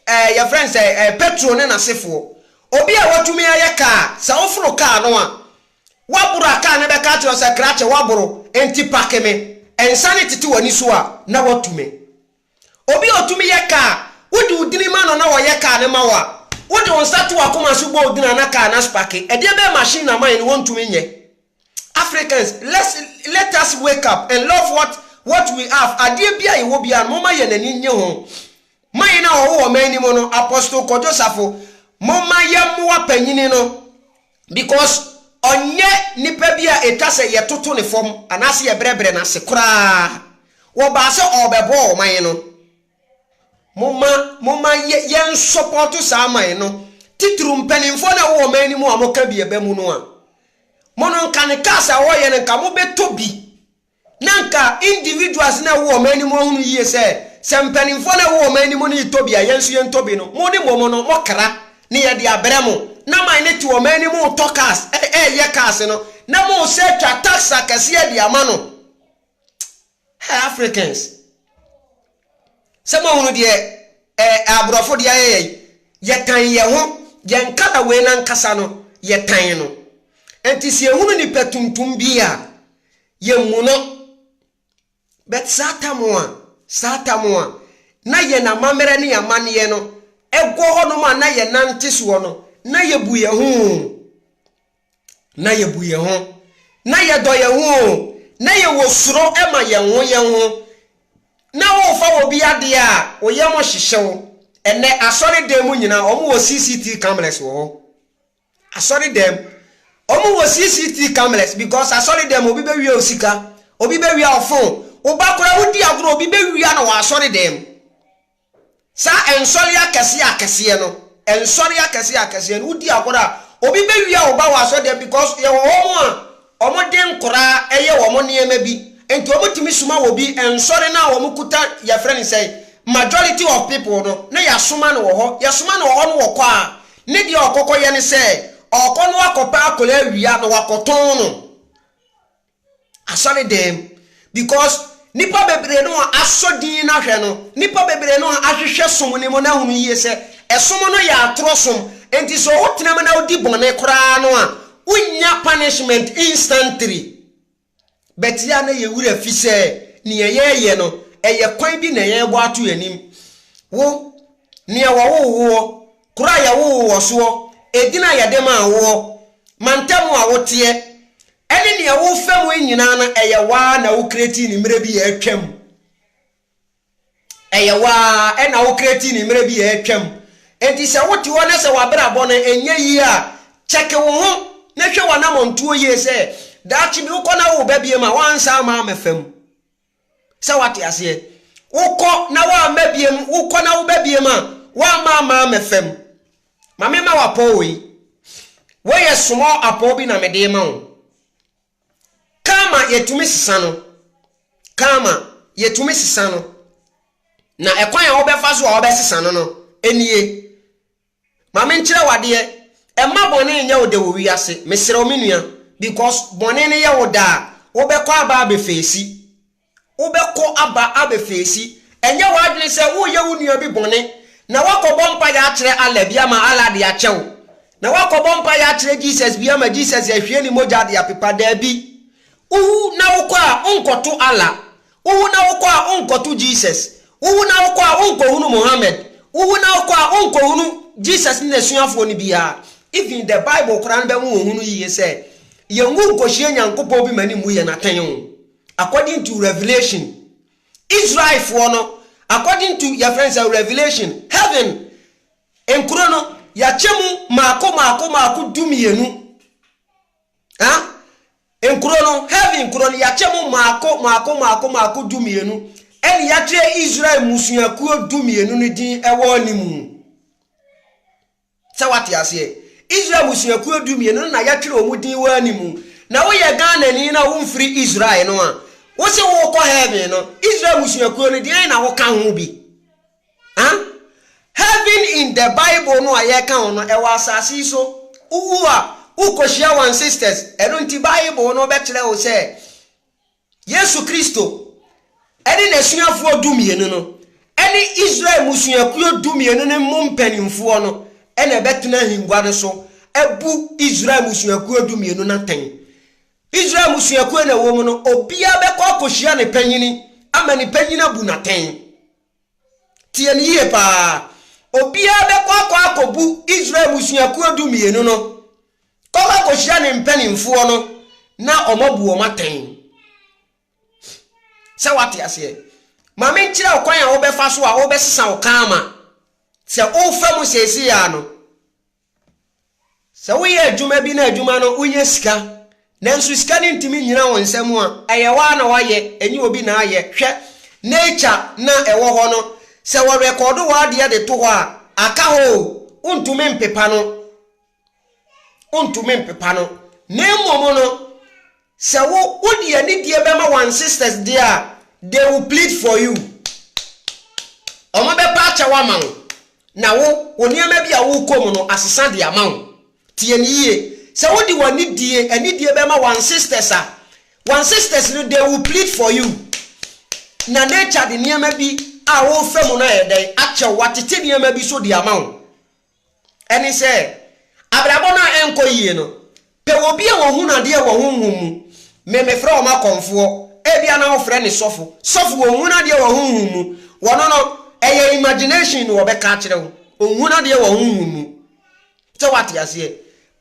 ɛɛ yɛfrɛ no sɛn ɛɛ petrol ne n'asefoɔ. Obi a watumi ayɛ kaa, sɛ woforo kaa no a, woaboro a kaa no bɛka akyerɛ wo sɛ krakye woaboro, enti pake me, ɛnsa no tete w'ani so a na woatu me. Obi a otumi yɛ ka a, wode wo dini ma no na ɔyɛ ka no ma wo a, wode wo nsa to w'akoma so bɔ odin a na ka no aspake. Ɛdeɛ bɛyɛ machine na man no wɔntumi nyɛ. Africans, let's let us wake up and love what what we have, adeɛ biara a yɛwɔ biara no momma yɛn ani nnye ho. Man no a ɔwowɔ man no mu no, Apostle Kojo Safo, momma yɛmmoa panyini no Because ɔnyɛ nipa bi a etwa sɛ yɛtoto ne fam anaasɛ yɛbrɛbrɛ no ase koraa. Wɔbaa sɛ ɔrebɛbɔ ɔman no. Momma, momma yɛ, yɛnsɔpɔɔto saa man no, titiriw mpanimfoɔ no a wɔwɔ ɔman no mu a wɔka bi a ɛba mu no a. Mo no, nka ne cars a wɔyɛ no, nka mobɛtɔ bi. Na anka individuals na ɛwɔ ɔman no mu ahunu yie sɛ, sɛ mpanimfoɔ na ɛwɔ ɔman no mu no retɔ bi a, yɛn nso yɛntɔ bi no. Mo ne mmom no, mokra, na yɛde abrɛ mo. Na man no te ɔman no mu retɔ cars, reyɛ cars no, na moresan atwa tax akɛseɛ de ama no. Hey Africans! Sɛ moahunu deɛ ɛɛ aborɔfo de ayɛ yɛn, yɛtan yɛn ho, yɛn kala wei no ankasa no, yɛtan no. Enti sɛ yɛhunu nipa tuntum bi a, yɛmmu no. But saa tam a, saa tam a, na yɛn amammerɛ ne yɛn amanneɛ no, ɛwɔ hɔnom a na yɛnante soɔ no, na yɛbu yɛn ho o. na yɛbu yɛn ho, na yɛdɔ yɛn ho o, na yɛwɔ suro ma yɛn ho yɛn ho, na worefa obi adeɛ a, wo yam hyehye wo. Ɛnnɛ, asɔredan mu nyinaa, wɔn wɔ CCT cameras wɔ hɔ. Asɔredan mu, wɔn wɔ CCT cameras because asɔredan mu obi bɛwia wo sika, obi bɛwia wo phone, wo ba koraa wodi agorɔ, obi bɛwia no wɔ asɔredan mu. Saa nsɔre akɛseɛ akɛseɛ no nsɔre akɛseɛ akɛseɛ no wodi agorɔ a obi bɛwia wo ba wɔ asɔdeɛ because yɛwɔ hɔ mo a wɔn de nkoraa ɛyɛ wɔn nneɛma bi nti wɔn tumi soma wɔ bi nsɔre no a wɔn kuta yɛfrɛ no sɛn majority of people no na yasoma no wɔ hɔ yɛsoma no wɔ hɔ no wɔkɔ a ne deɛ ɔkɔkɔ yɛ ne sɛ ɔkɔ na wakɔ pɛ akɔrɛ awia na wakɔ tɔn no asɔredan mu because nipa bebree no a asɔ din no ahwɛ no nipa bebree no a ahwehwɛ som no mu na ahunu yie sɛ ɛsom no yɛ atorɔ som nti sɛ ɔwo tena mu na wodi bɔne koraa no a wonya punishment instantly but yɛ a na yɛ wura fi sɛ nea yɛyɛ no ɛyɛ kwan bi na yɛbɔ ato anim wo nea wɔwoo woɔ koro a yɛwoo wɔ soɔ edin a yɛde maa woɔ mantam a woteɛ Ɛne nea wofa mu yi nyinaa no, ɛyɛ wo ara na wokreatii no mmerɛ bi a atwam. Ɛyɛ wo ara na wokreatii no mmerɛ bi a atwam. Enti sɛ wote hɔ na sɛ w'abrabɔ no nyɛ yie a, kyɛke wo ho na hwɛ w'anamɔntuo yie sɛ daakye bi wokɔ na wowo ba bio a, woansan amma ammɛfa mu. Sɛ wate aseɛ? Wokɔ na woamma biem, wokɔ na woba biem a, woamma amma ammɛfam. Ma mema wo apɔw wei. Wei yɛ small apɔw bi na mede ma wo. Kama yɛtumi sesa no. Kama yɛtumi sesa no. Na ɛkwan a wobɛfa so a wobɛsesa no no, nie. Ma me nkyerɛ wo adeɛ, mma bɔne nyɛ wo dɛ wɔ wiase, mesrɛ wo me nua, because bɔne no yɛ wo dɛ a, wo bɛ kɔ aba abɛ feesi, wo bɛ kɔ aba abɛ feesi, ɛnyɛ w'adwene sɛ wo yɛ wo nua bi bɔne, na woakɔ bɔ mpaeɛ akyerɛ Allah bi ama Allah de akyɛ wo, na woakɔ bɔ mpaeɛ akyerɛ Jesus bi ama Jesus de ahwie ne mogya de apepa, daabi, wo wu na wo kɔ a, wo nkɔ to Allah, Wowu na wokɔ a wonkɔto Jesus, wowu na wokɔ a wonkɔhunu Mohammed, wowu na wokɔ a wonkɔhunu Jesus ne n'asuafoɔ no biara, even the Bible koraa no bɛhu wɔn ho no yie sɛ yɛnwu nkɔhyia Nyankopɔn bi ma no mmu yɛn atɛn o. According to Revelation, Israelfoɔ no, according to yɛfrɛ no sɛ Revelation, Heaven nkuro no, yɛakyɛ mu mmaako mmaako mmaako du mmienu. Huh? Nkuro no, heaven nkuro no, yɛakyɛ mu mmaako mmaako mmaako mmaako dumienu, ɛnna yɛatwerɛ Israel mmusuakuo dumienu no din wɔ ne mu. Sɛ wate aseɛ? Israel mmusuakuo dumienu no na yɛatwerɛ wɔn din wɔ ne mu. Na woyɛ Ghanani na womfiri Israel no a, wose wokɔ heaven no, Israel mmusuakuo no deɛn na woka ho bi? Huh? Heaven in the Bible no a yɛka ho no, ɛwɔ asase yi so. Wuwu a, wokohyia wo ancestors. Ɛno nti Bible no bɛkyerɛ wo sɛ Yesu Kristo ne n'asuafoɔ dumienu no ne Israel mmusuakuo dumienu no mu mpanimfoɔ no na ɛbɛtena ahengua no so abu Israel mmusuakuo dumienu no atɛn. Israel mmusuakuo na ɛwɔ mu no, obiara bɛkɔ akɔhyia ne panyin ama ne panyin abu no atɛn. Tie no yie paa. Obiara bɛkɔ akɔ akɔbu Israel mmusuakuo du mmienu no kɔkɔ akɔhyia ne mpanimfoɔ no na wɔabu wɔn atɛn. Sɛ wate aseɛ. Ma menkyerɛ wo kwan a wobɛfa so a wobɛsesa wo karma. Sɛ wofa mu seesei ara no, Sɛ woyɛ adwuma bi na adwuma no wonya sika, nanso sika no ntumi nnyina wo nsa mu a, ɛyɛ woa na woayɛ, ɛnyɛ obi na ayɛ. Hwɛ nature no a ɛwɔ hɔ no. Sɛ wɔrekɔdo w'adeɛ de to hɔ a, aka hɔ o, wontumi mpepa no. Wontumi mpepa no. Na mmom no. Sɛ wo wode anidie bɛma wan sisters deɛ a they will plead for you. Ɔmo bɛpa akyɛw ama wo na wo wo nneɛma bi a wokɔ mu no asesa de ama wo. Tie no yie, sɛ wode wanidie anidie bɛma wan sisters a, wan sisters no they will plead for you. Na nature de nneɛma bi a wofa mu no ayɛ dɛn akyɛw, watete nneɛma bi so de ama wo. Ɛne sɛ, abrabɔ no a ɛnkɔ yie no, pɛ wɔ bi a wɔhunu adeɛ wɔ honhom mu. Me, mefrɛ wɔn akɔmfoɔ. Ebia na wofrɛ no sɔfo. Sɔfo, wɔnhunu adeɛ wɔ honhom mu. Wɔno no, ɛyɛ imagination na wɔbɛka akyerɛ wo. Wɔnhunu adeɛ wɔ honhom mu. Sɛ woate aseɛ?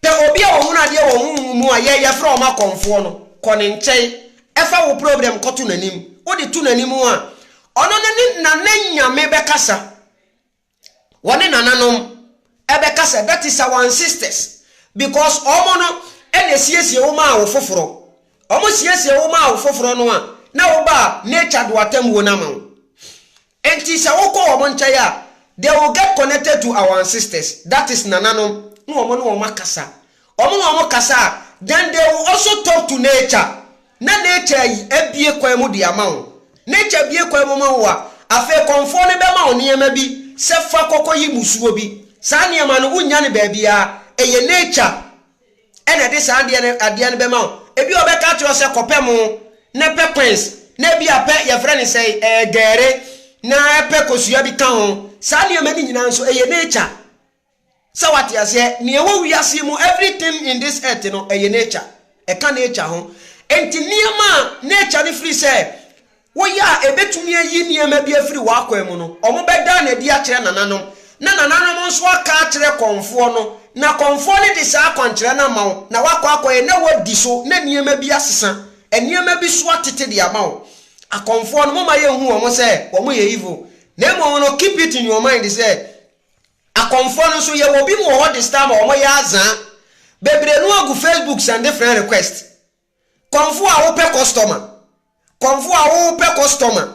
Pɛ obi a ɔhunu adeɛ wɔ honhom mu a yɛn yɛfrɛ wɔn akɔmfoɔ no. Kɔ ne nkyɛn. Ɛfa wo problem kɔto n'anim. Wode to n'anim a, ɔno ne, na ne Nyame bɛkasa. wɔne nananom ɛbɛka sɛ that is our ancestors because wɔn no ɛna esiesie wo maa wo foforɔ wɔn siesie wo maa wo foforɔ no a na wo ba nature do atemmuo no ama wo nti sɛ wokɔ wɔn nkyɛn a they will get connected to our ancestors that is nananom na wɔn ne wɔn akasa Wɔn na wɔn kasa a then they will also talk to nature na nature yi abue kwan mu de ama wo. Nature bue kwan mu ma wo a, afei kɔmfoɔ no bɛma wo nneɛma bi sɛ fa kɔ kɔyi mmusuo bi. Saa nneɛma no wonnya no baabiara, ɛyɛ nature na ɛde saa adeɛ no adeɛ no bɛma wo. Ebia ɔbɛka akyerɛ wo sɛ kɔpɛ mo na pɛ quince na ebia pɛ yɛfrɛ no sɛ ɛɛ gɛɛre na pɛ kosua bi ka ho. Saa nneɛma no nyinaa nso ɛyɛ nature. Sɛ wate aseɛ nea ɛwɔ wiase yi mu everything in this earth no ɛyɛ nature ɛka nature ho nti nneɛma a nature no firi sɛ woyɛ a ɛbɛtumi ayi nneɛma bi afiri w'akwan mu no wɔn bɛdaa no adi akyerɛ nananom na nananom nso aka akyerɛ kɔnfoɔ no na kɔnfoɔ no de saa akwankyerɛ no ama wo na wakɔ akɔyɛ na wadi so na nneɛma bi asesa nneɛma bi so atete de ama wo akɔnfoɔ no momma yɛnhu wɔn sɛ wɔn yɛ evil na mmom no keep it in your mind sɛ Akɔmfoɔ no nso yɛwɔ bi mo hɔ this time a wɔn yɛ azaa bebree no agu Facebook sɛnde friend request kɔmfoɔ a wopɛ customer kɔmfoɔ a wopɛ customer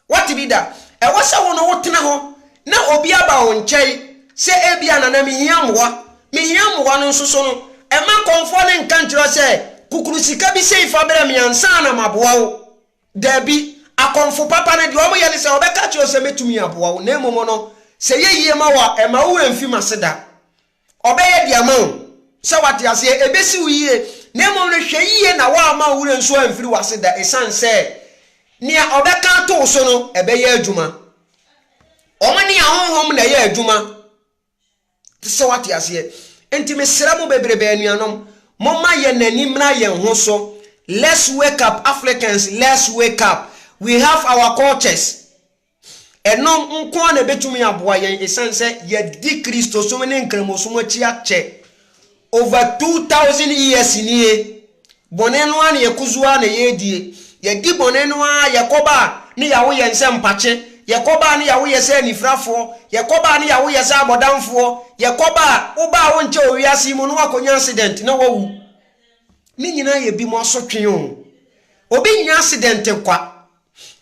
wate bi da ɛwɔ sɛ wo no wo tena hɔ na obi aba wo nkyɛn sɛ ebia nana me hia mmoa me hia mmoa no nso so no ɛma kɔmfoɔ no nka nkyerɛ sɛ kukuru sika bi sei fa brɛ me ansa na maboa wo. Dabi, akɔmfo papa no, deɛ wɔyɛ ne sɛ, wɔbɛka akyerɛ wo sɛ, Mɛtumi aboa wo, na mmom no, sɛ ɛyɛ yie ma wo a, mma wo werɛ mfi m'ase da. Wɔbɛyɛ de ama wo, sɛ woate aseɛ. Ɛbɛsi wo yie, na mmom no, hwɛ yie na woamma wo werɛ nso amfiri w'ase da, ɛsiane sɛ nea wɔbɛka ato wo so no, ɛbɛyɛ adwuma. Wɔn ne ahonhom na ɛyɛ adwuma. Te sɛ wate aseɛ. Enti mesrɛ mo bebrebe anuanom, momma yɛn ani mmra yɛn ho so. Let's wake up Africans, let's wake up. We have our cultures. Ɛno nko ara na ɛbɛtumi aboa yɛn, ɛsiane sɛ yɛadi Kristosom ne Nkramosom akyi akyɛ. Over two thousand years nie, bɔne no ara na yɛkusu ara na yɛredie. Yɛdi bɔne no ara, yɛkɔba a ne yawo yɛn sɛ mpakye, yɛkɔba a ne yawo yɛ sɛ anifirafoɔ, yɛkɔba a ne yawo yɛ sɛ abɔdamfoɔ, yɛkɔba a woba a wonkyɛ wɔ wiase yi mu na woakɔnya accident na woawu. Ne nyinaa yɛ binom asotwe o. Obi nnya accident kwa.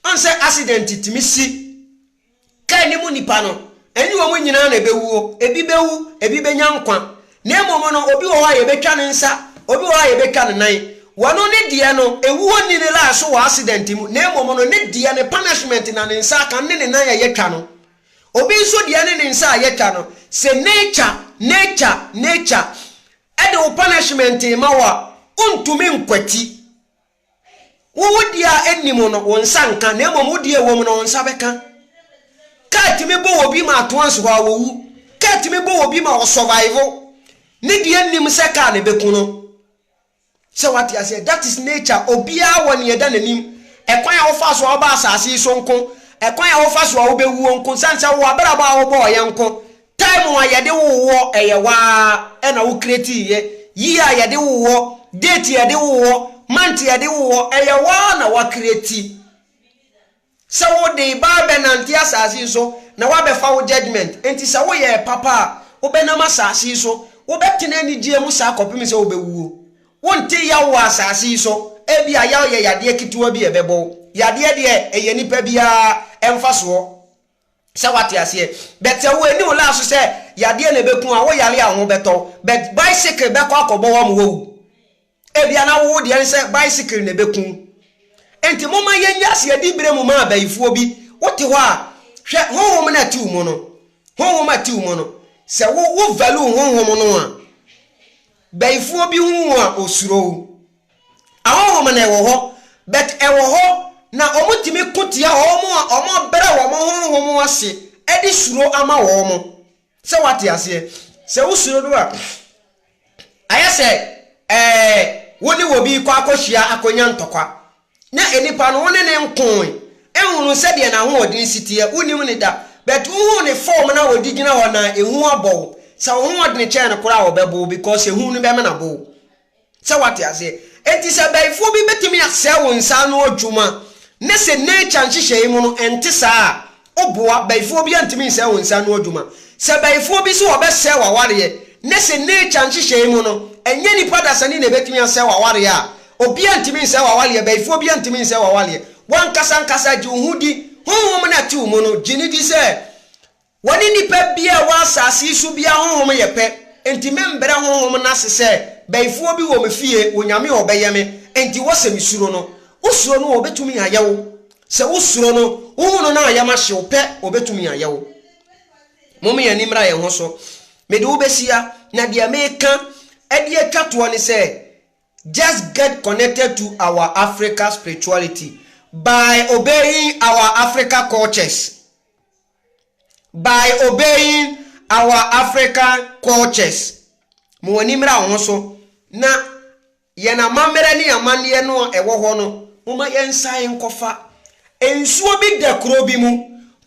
Woahu sɛ accident tumi si. Kar no mu nnipa no, ɛne wɔn nyinaa na ɛbɛwuo. Ebi bɛwu, ebi bɛnya nkwa. Na mmom no, obi wɔ hɔ a yɛbɛtwa ne nsa, obi wɔ hɔ a yɛbɛtwa ne nan. Wɔno ne deɛ no, ɛwuo nni ne laa so wɔ accident mu, na mmom no, ne deɛ ne punishment na ne nsa aka ne ne nan a yɛtwa no. Obi nso deɛ ne ne nsa a yɛtwa no. Sɛ nature, nature, nature, de wo punishment rema wo a, wontumi nkwati. Wo wo deɛ a ɛnni mu no, wo nsa nka, na mmom wo deɛ ɛwɔ mu no, wo nsa bɛka. Kaa tumi bɔ obi ma atoans hɔ a wɔwu. Kaa tumi bɔ obi ma ɔsɔvaivo. Ne deɛ nnim sɛ kaa na ɛbɛku no. Sɛ wate aseɛ, that is nature. Obiara wɔ nea ɛda n'anim. Ɛkwan a wofa so a woba asase yi so nko, ɛkwan a wofa so a wobɛwuo nko, sane sɛ wowɔ abrabɔ a wobɔɔeɛ nko, Time a yɛde woo woɔ ɛyɛ waa ɛna wo create yɛ Year a yɛde woo woɔ Date yɛde woo woɔ Month yɛde woo woɔ ɛyɛ waa na wa create Sɛ wo de ba bɛ nante asase yi so na wa bɛ fa wo judgement Enti sɛ wo yɛɛ papa a wo bɛ nam asase yi so Wo bɛ tena anigyeɛ mu saa kɔpem sɛ wo bɛ wuo Wo nte yaw wɔ asase yi so Ebia yaw yɛ yadeɛ ketewa bi a ɛbɛ bɔ wo Yadeɛ deɛ ɛyɛ nipa biara mfasoɔ Sɛ wate aseɛ but sɛ wo ɛni wo laa so sɛ yadeɛ na ɛbɛku a wo yare a ho bɛtɔ wo but bicycle bɛkɔ akɔbɔ wo ama wawu ebia na wo deɛ ne sɛ bicycle na ɛbɛku wo nti moma yɛ nya aseɛ di berɛ mu ma abayifoɔ bi wo te hɔ a hwɛ honhom no ati wo mu no honhom ati wo mu no sɛ wo wo value honhom no a bayifoɔ bi hu wo a ɔsuro wo. Ahonhom no wɔ hɔ, but ɛwɔ hɔ na wɔtumi ko tia wɔn a wɔabrɛ wɔn honhom ase de suro ama wɔn. Sɛ wate aseɛ? Sɛ wosuro no a, ayɛ sɛ ɛɛ wo ne obi rekɔ akɔhyia akɔnya ntɔkwa. Na nipa no wo ne ne nkoe, nhunu sɛdeɛ n'ahoɔden si teɛ, wonim ne da. But wohunu ne form no a ɔde gyina hɔ no a, ehu abɔ wo. Sɛ wo hoɔdene kyɛn no koraa a, ɔbɛbo wo because ehu no bɛmena bo wo. Sɛ wate aseɛ? Enti sɛ abayifoɔ bi bɛtumi asɛe wo nsa ano adwuma na sɛ nature nhyehyɛe mu no ɛnte saa a, woboa, bayifoɔ biara ntumi nsɛe wo nsa ano adwuma. Sɛ abayifoɔ bi se wɔbɛsɛe w'awareɛ na sɛ nature nhyehyɛe mu no ɛnyɛ nnipa dasani na ɛbɛtumi asɛe w'awareɛ a, obiara ntumi nsɛe w'awareɛ, bayifoɔ biara ntumi nsɛe w'awareɛ. W'ankasa ankasa gye wo ho di, honhom no a ɛte wo mu no gye no di sɛ Wɔne nnipa biara a ɛwɔ asase yi so biara honhom yɛ pɛ, enti membrɛ honhom no ase sɛ bɛyifoɔ bi wɔ me fie, Onyame a ɔbɛyɛ me, enti wɔ sɛ mesuro no. Wosuro no a, ɔbɛtumi ayɛ wo, sɛ wosuro no, wohu no na ayɛ ma hye wo pɛ, ɔbɛtumi ayɛ wo. Momma yɛn ani mmra yɛn ho so, mede wo bɛhyia, na deɛ mereka de atwa toɔ ne sɛ, Just get connected to our Africa spirituality by obeying our Africa cultures. By obeying our African cultures ma w'ani mmra wo ho so na yɛn amammerɛ ne amanneɛ no a ɛwɔ hɔ no momma yɛnsan nkɔfa nsuo bi da kuro bi mu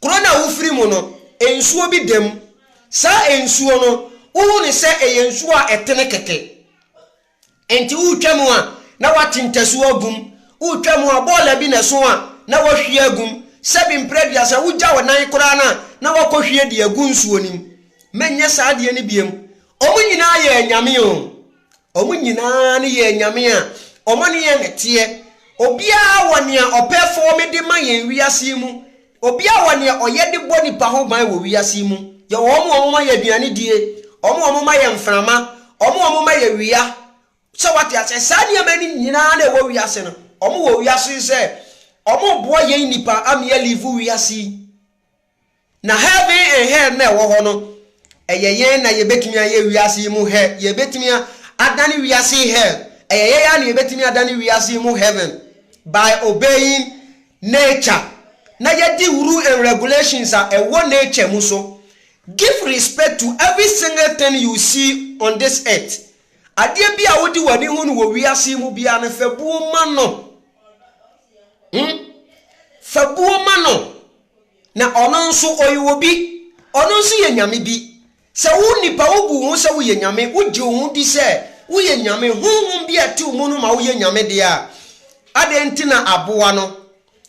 kuro no a wofiri mu no nsuo bi da mu saa nsuo no wohu no sɛ ɛyɛ nsuo a ɛtene kɛkɛ Enti woretwa mu a, na wɔate ntasu agum. Woretwa mu a, bɔɔla bi na ɛsõ a, na wɔahwie agum. Sɛbe mprɛ aduasa, wogya wo nan koraa no a, na woakɔhwie de agu nsuo no mu. Mɛnyɛ saa adeɛ no bio. Wɔn nyinaa yɛ anyame o. Wɔn nyinaa ne yɛ anyame a wɔne yɛn na ɛteɛ. Obiara wɔ nea ɔpɛ fɔɔme de ma yɛn wiase yi mu. Obi a ɔwɔ nea ɔyɛ de bɔ nnipa ho ban wɔ wiase yi mu yɛ wɔn a wɔma yɛn aduane die, wɔn a wɔma yɛn mframa, wɔn a wɔma yɛn wia. Sɛ wate aseɛ? Saa nneɛma no nyinaa na ɛwɔ wiase no, wɔn wɔ wiase yi sɛ wɔreboa yɛn nnipa ama yɛ live wiase yi. Na heaven and hell na ɛwɔ hɔ no, ɛyɛ yɛn na yɛbɛtumi ayɛ wiase yi mu hell, yɛbɛtumi adane wiase yi hell. Ɛyɛ yɛn ara na yɛbɛtumi adane wiase yi mu heaven by obeying Nature, na yɛdi rule and regulations a ɛwɔ nature mu so. Give respect to every single thing you see on this earth. Adeɛ biara a wode w'ani hu no wɔ wiase yi mu biara no, fa buo ma no. Hmm? Fa buo ma no. Na ɔno nso, ɔyɛ obi. Ɔno nso yɛ Nyame bi. Sɛ wo nipa wobu wo ho sɛ woyɛ nyame, wogye wo ho di sɛ woyɛ nyame, honhom bi a ɛte wo mu no ma woyɛ nyame deɛ a, adɛn nti na aboa no,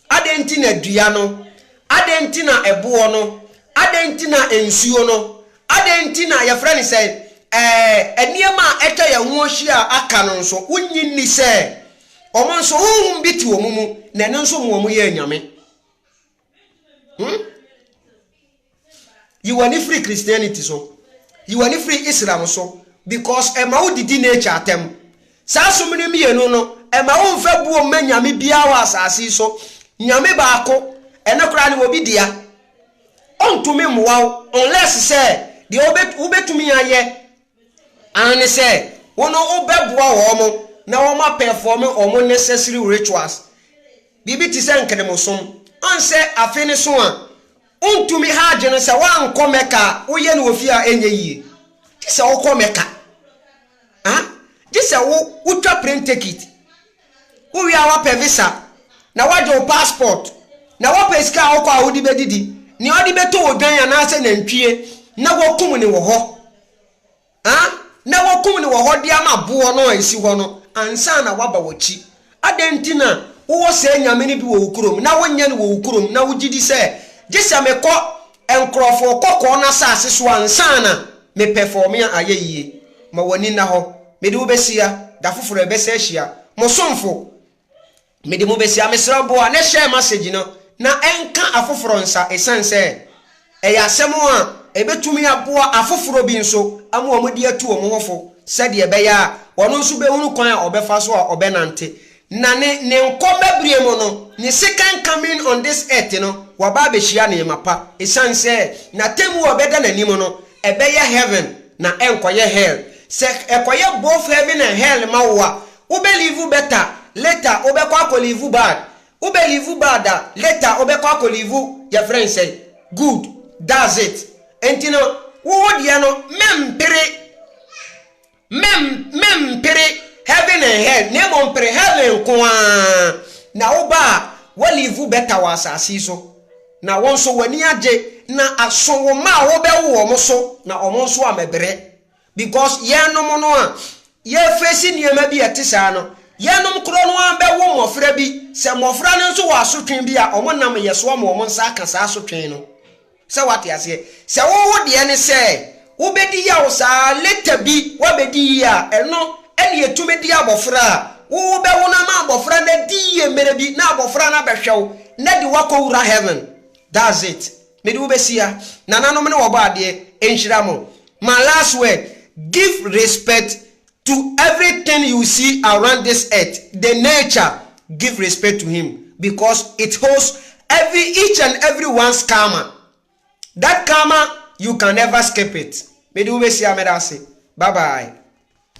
adɛn nti na dua no, adɛn nti na ɛboɔ no, adɛn nti na nsuo no, adɛn nti na yɛfrɛ no sɛn, ɛɛ, nneɛma a atwa yɛn ho ahyia a aka no nso, wonnye nni sɛ wɔn nso honhom bi te wɔn mu na ɛno nso ma wɔyɛɛ nyame? Hmm? Yi w'ani firi Christianity so. Yi w'ani firi Islam so. Because ɛma wo didi nature atɛm. Saa som no mmienu no, ɛma wo nfa buo mma nyame biara wɔ asase so. Nyame baako, ɛno koraa no obi dea. Ɔntumi mmoa wo, unless sɛ deɛ wobɛtumi ayɛ Aane sɛ wo no wo bɛboa wɔn na wɔn a pɛfɔɔme wɔn necessary rituals, biribi te sɛ nkrimosom. Ɔn sɛ afe no so a wo ntumi Hajj no sɛ woankɔ Mecca a wo yɛ no wɔ fie a ɛnyɛ yie. Gye sɛ wo kɔ Mecca. Haa, gye sɛ wo wo twa plane tekit. Wo wie a wapɛ visa na wagye wo passport na wapɛ sika a wokɔ a wode bɛdidi nea ɔde bɛtɔ wɔ dwan anaasɛ nantwie na wakum ne wɔ hɔ ah na wakum ne wɔ hɔ de ama aboɔ no a ɛsi hɔ no ansa na waba wakyi adɛn nti na wowɔ saa nyame no bi wɔ wo kurom na wonyɛ no wɔ wo kurom na wogyidi sɛ gye sɛ mekɔ Nkurɔfoɔ kɔkɔɔ no asase so ansa na Me pɛ fɔɔ me a ayɛ yie. Ma w'ani nna hɔ, Mede wo bɛhyia, da foforɔ a ɛbɛsan ahyia. Mo somfo, Mede mo bɛhyia, mesrɛ wo boa na share message no na ɛnka afoforɔ nsa ɛsiane sɛ ɛyɛ asɛm a ɛbɛtumi aboa afoforɔ bi nso ama wɔn de atu wɔn ho fo sɛdeɛ ɛbɛyɛ a ɔno nso bɛhunu kwan a ɔbɛfa so a ɔbɛnante Na ne ne nkɔ mma bere mu no, ne second coming on this earth no, waba abehyia nneɛma pa. Esiane sɛ n'atemmu a ɔbɛda n'anim no, ɛbɛyɛ heaven na ɛnkɔyɛ hell. Sɛ ɛkɔyɛ both heaven and hell ma wo a, wobɛ live better, later wobɛkɔ akɔ live bad. Wobɛ live bad a, later wobɛkɔ akɔ live yɛfrɛ no sɛn? Good. That's it. Enti no, wo wo deɛ no, mempere. Mem, mempere heaven and hell, na mmom pere heaven nko ara, na woba a, w'olive bɛta wɔ asase yi so, na wo nso w'ani agye, na aso wo mma a wobɛwo wɔn so, na wɔn nso ammɛbrɛ. Because yɛnom no a yɛrefeesi nneɛma bi a ɛte saa no, yɛnom korɔ no ara bɛwo mmɔfra bi, sɛ mmɔfra no nso wɔ asotwe bi a, wɔnam yɛn so ama wɔn nsa aka saa asotwe no. Sɛ wate aseɛ. Sɛ wo wo deɛ ne sɛ wobɛdi yaw saa ara later bi woabɛdi yie a, ɛno ɛne ɛtumi de abɔfra a wo wo bɛwo no ama abɔfra no adi yie mmerɛ bi na abɔfra no abɛhwɛ wo na ɛde wo akɔ wura heaven. That's it. Mede wo bɛsia. Nananom ne wɔbɔ adeɛ. Nhyira mo. My last word, give respect To everything you see around this earth the nature give respect to him because it holds every each and every one's karma that karma you can never skip it mede wo bɛsi a meda ase bye bye.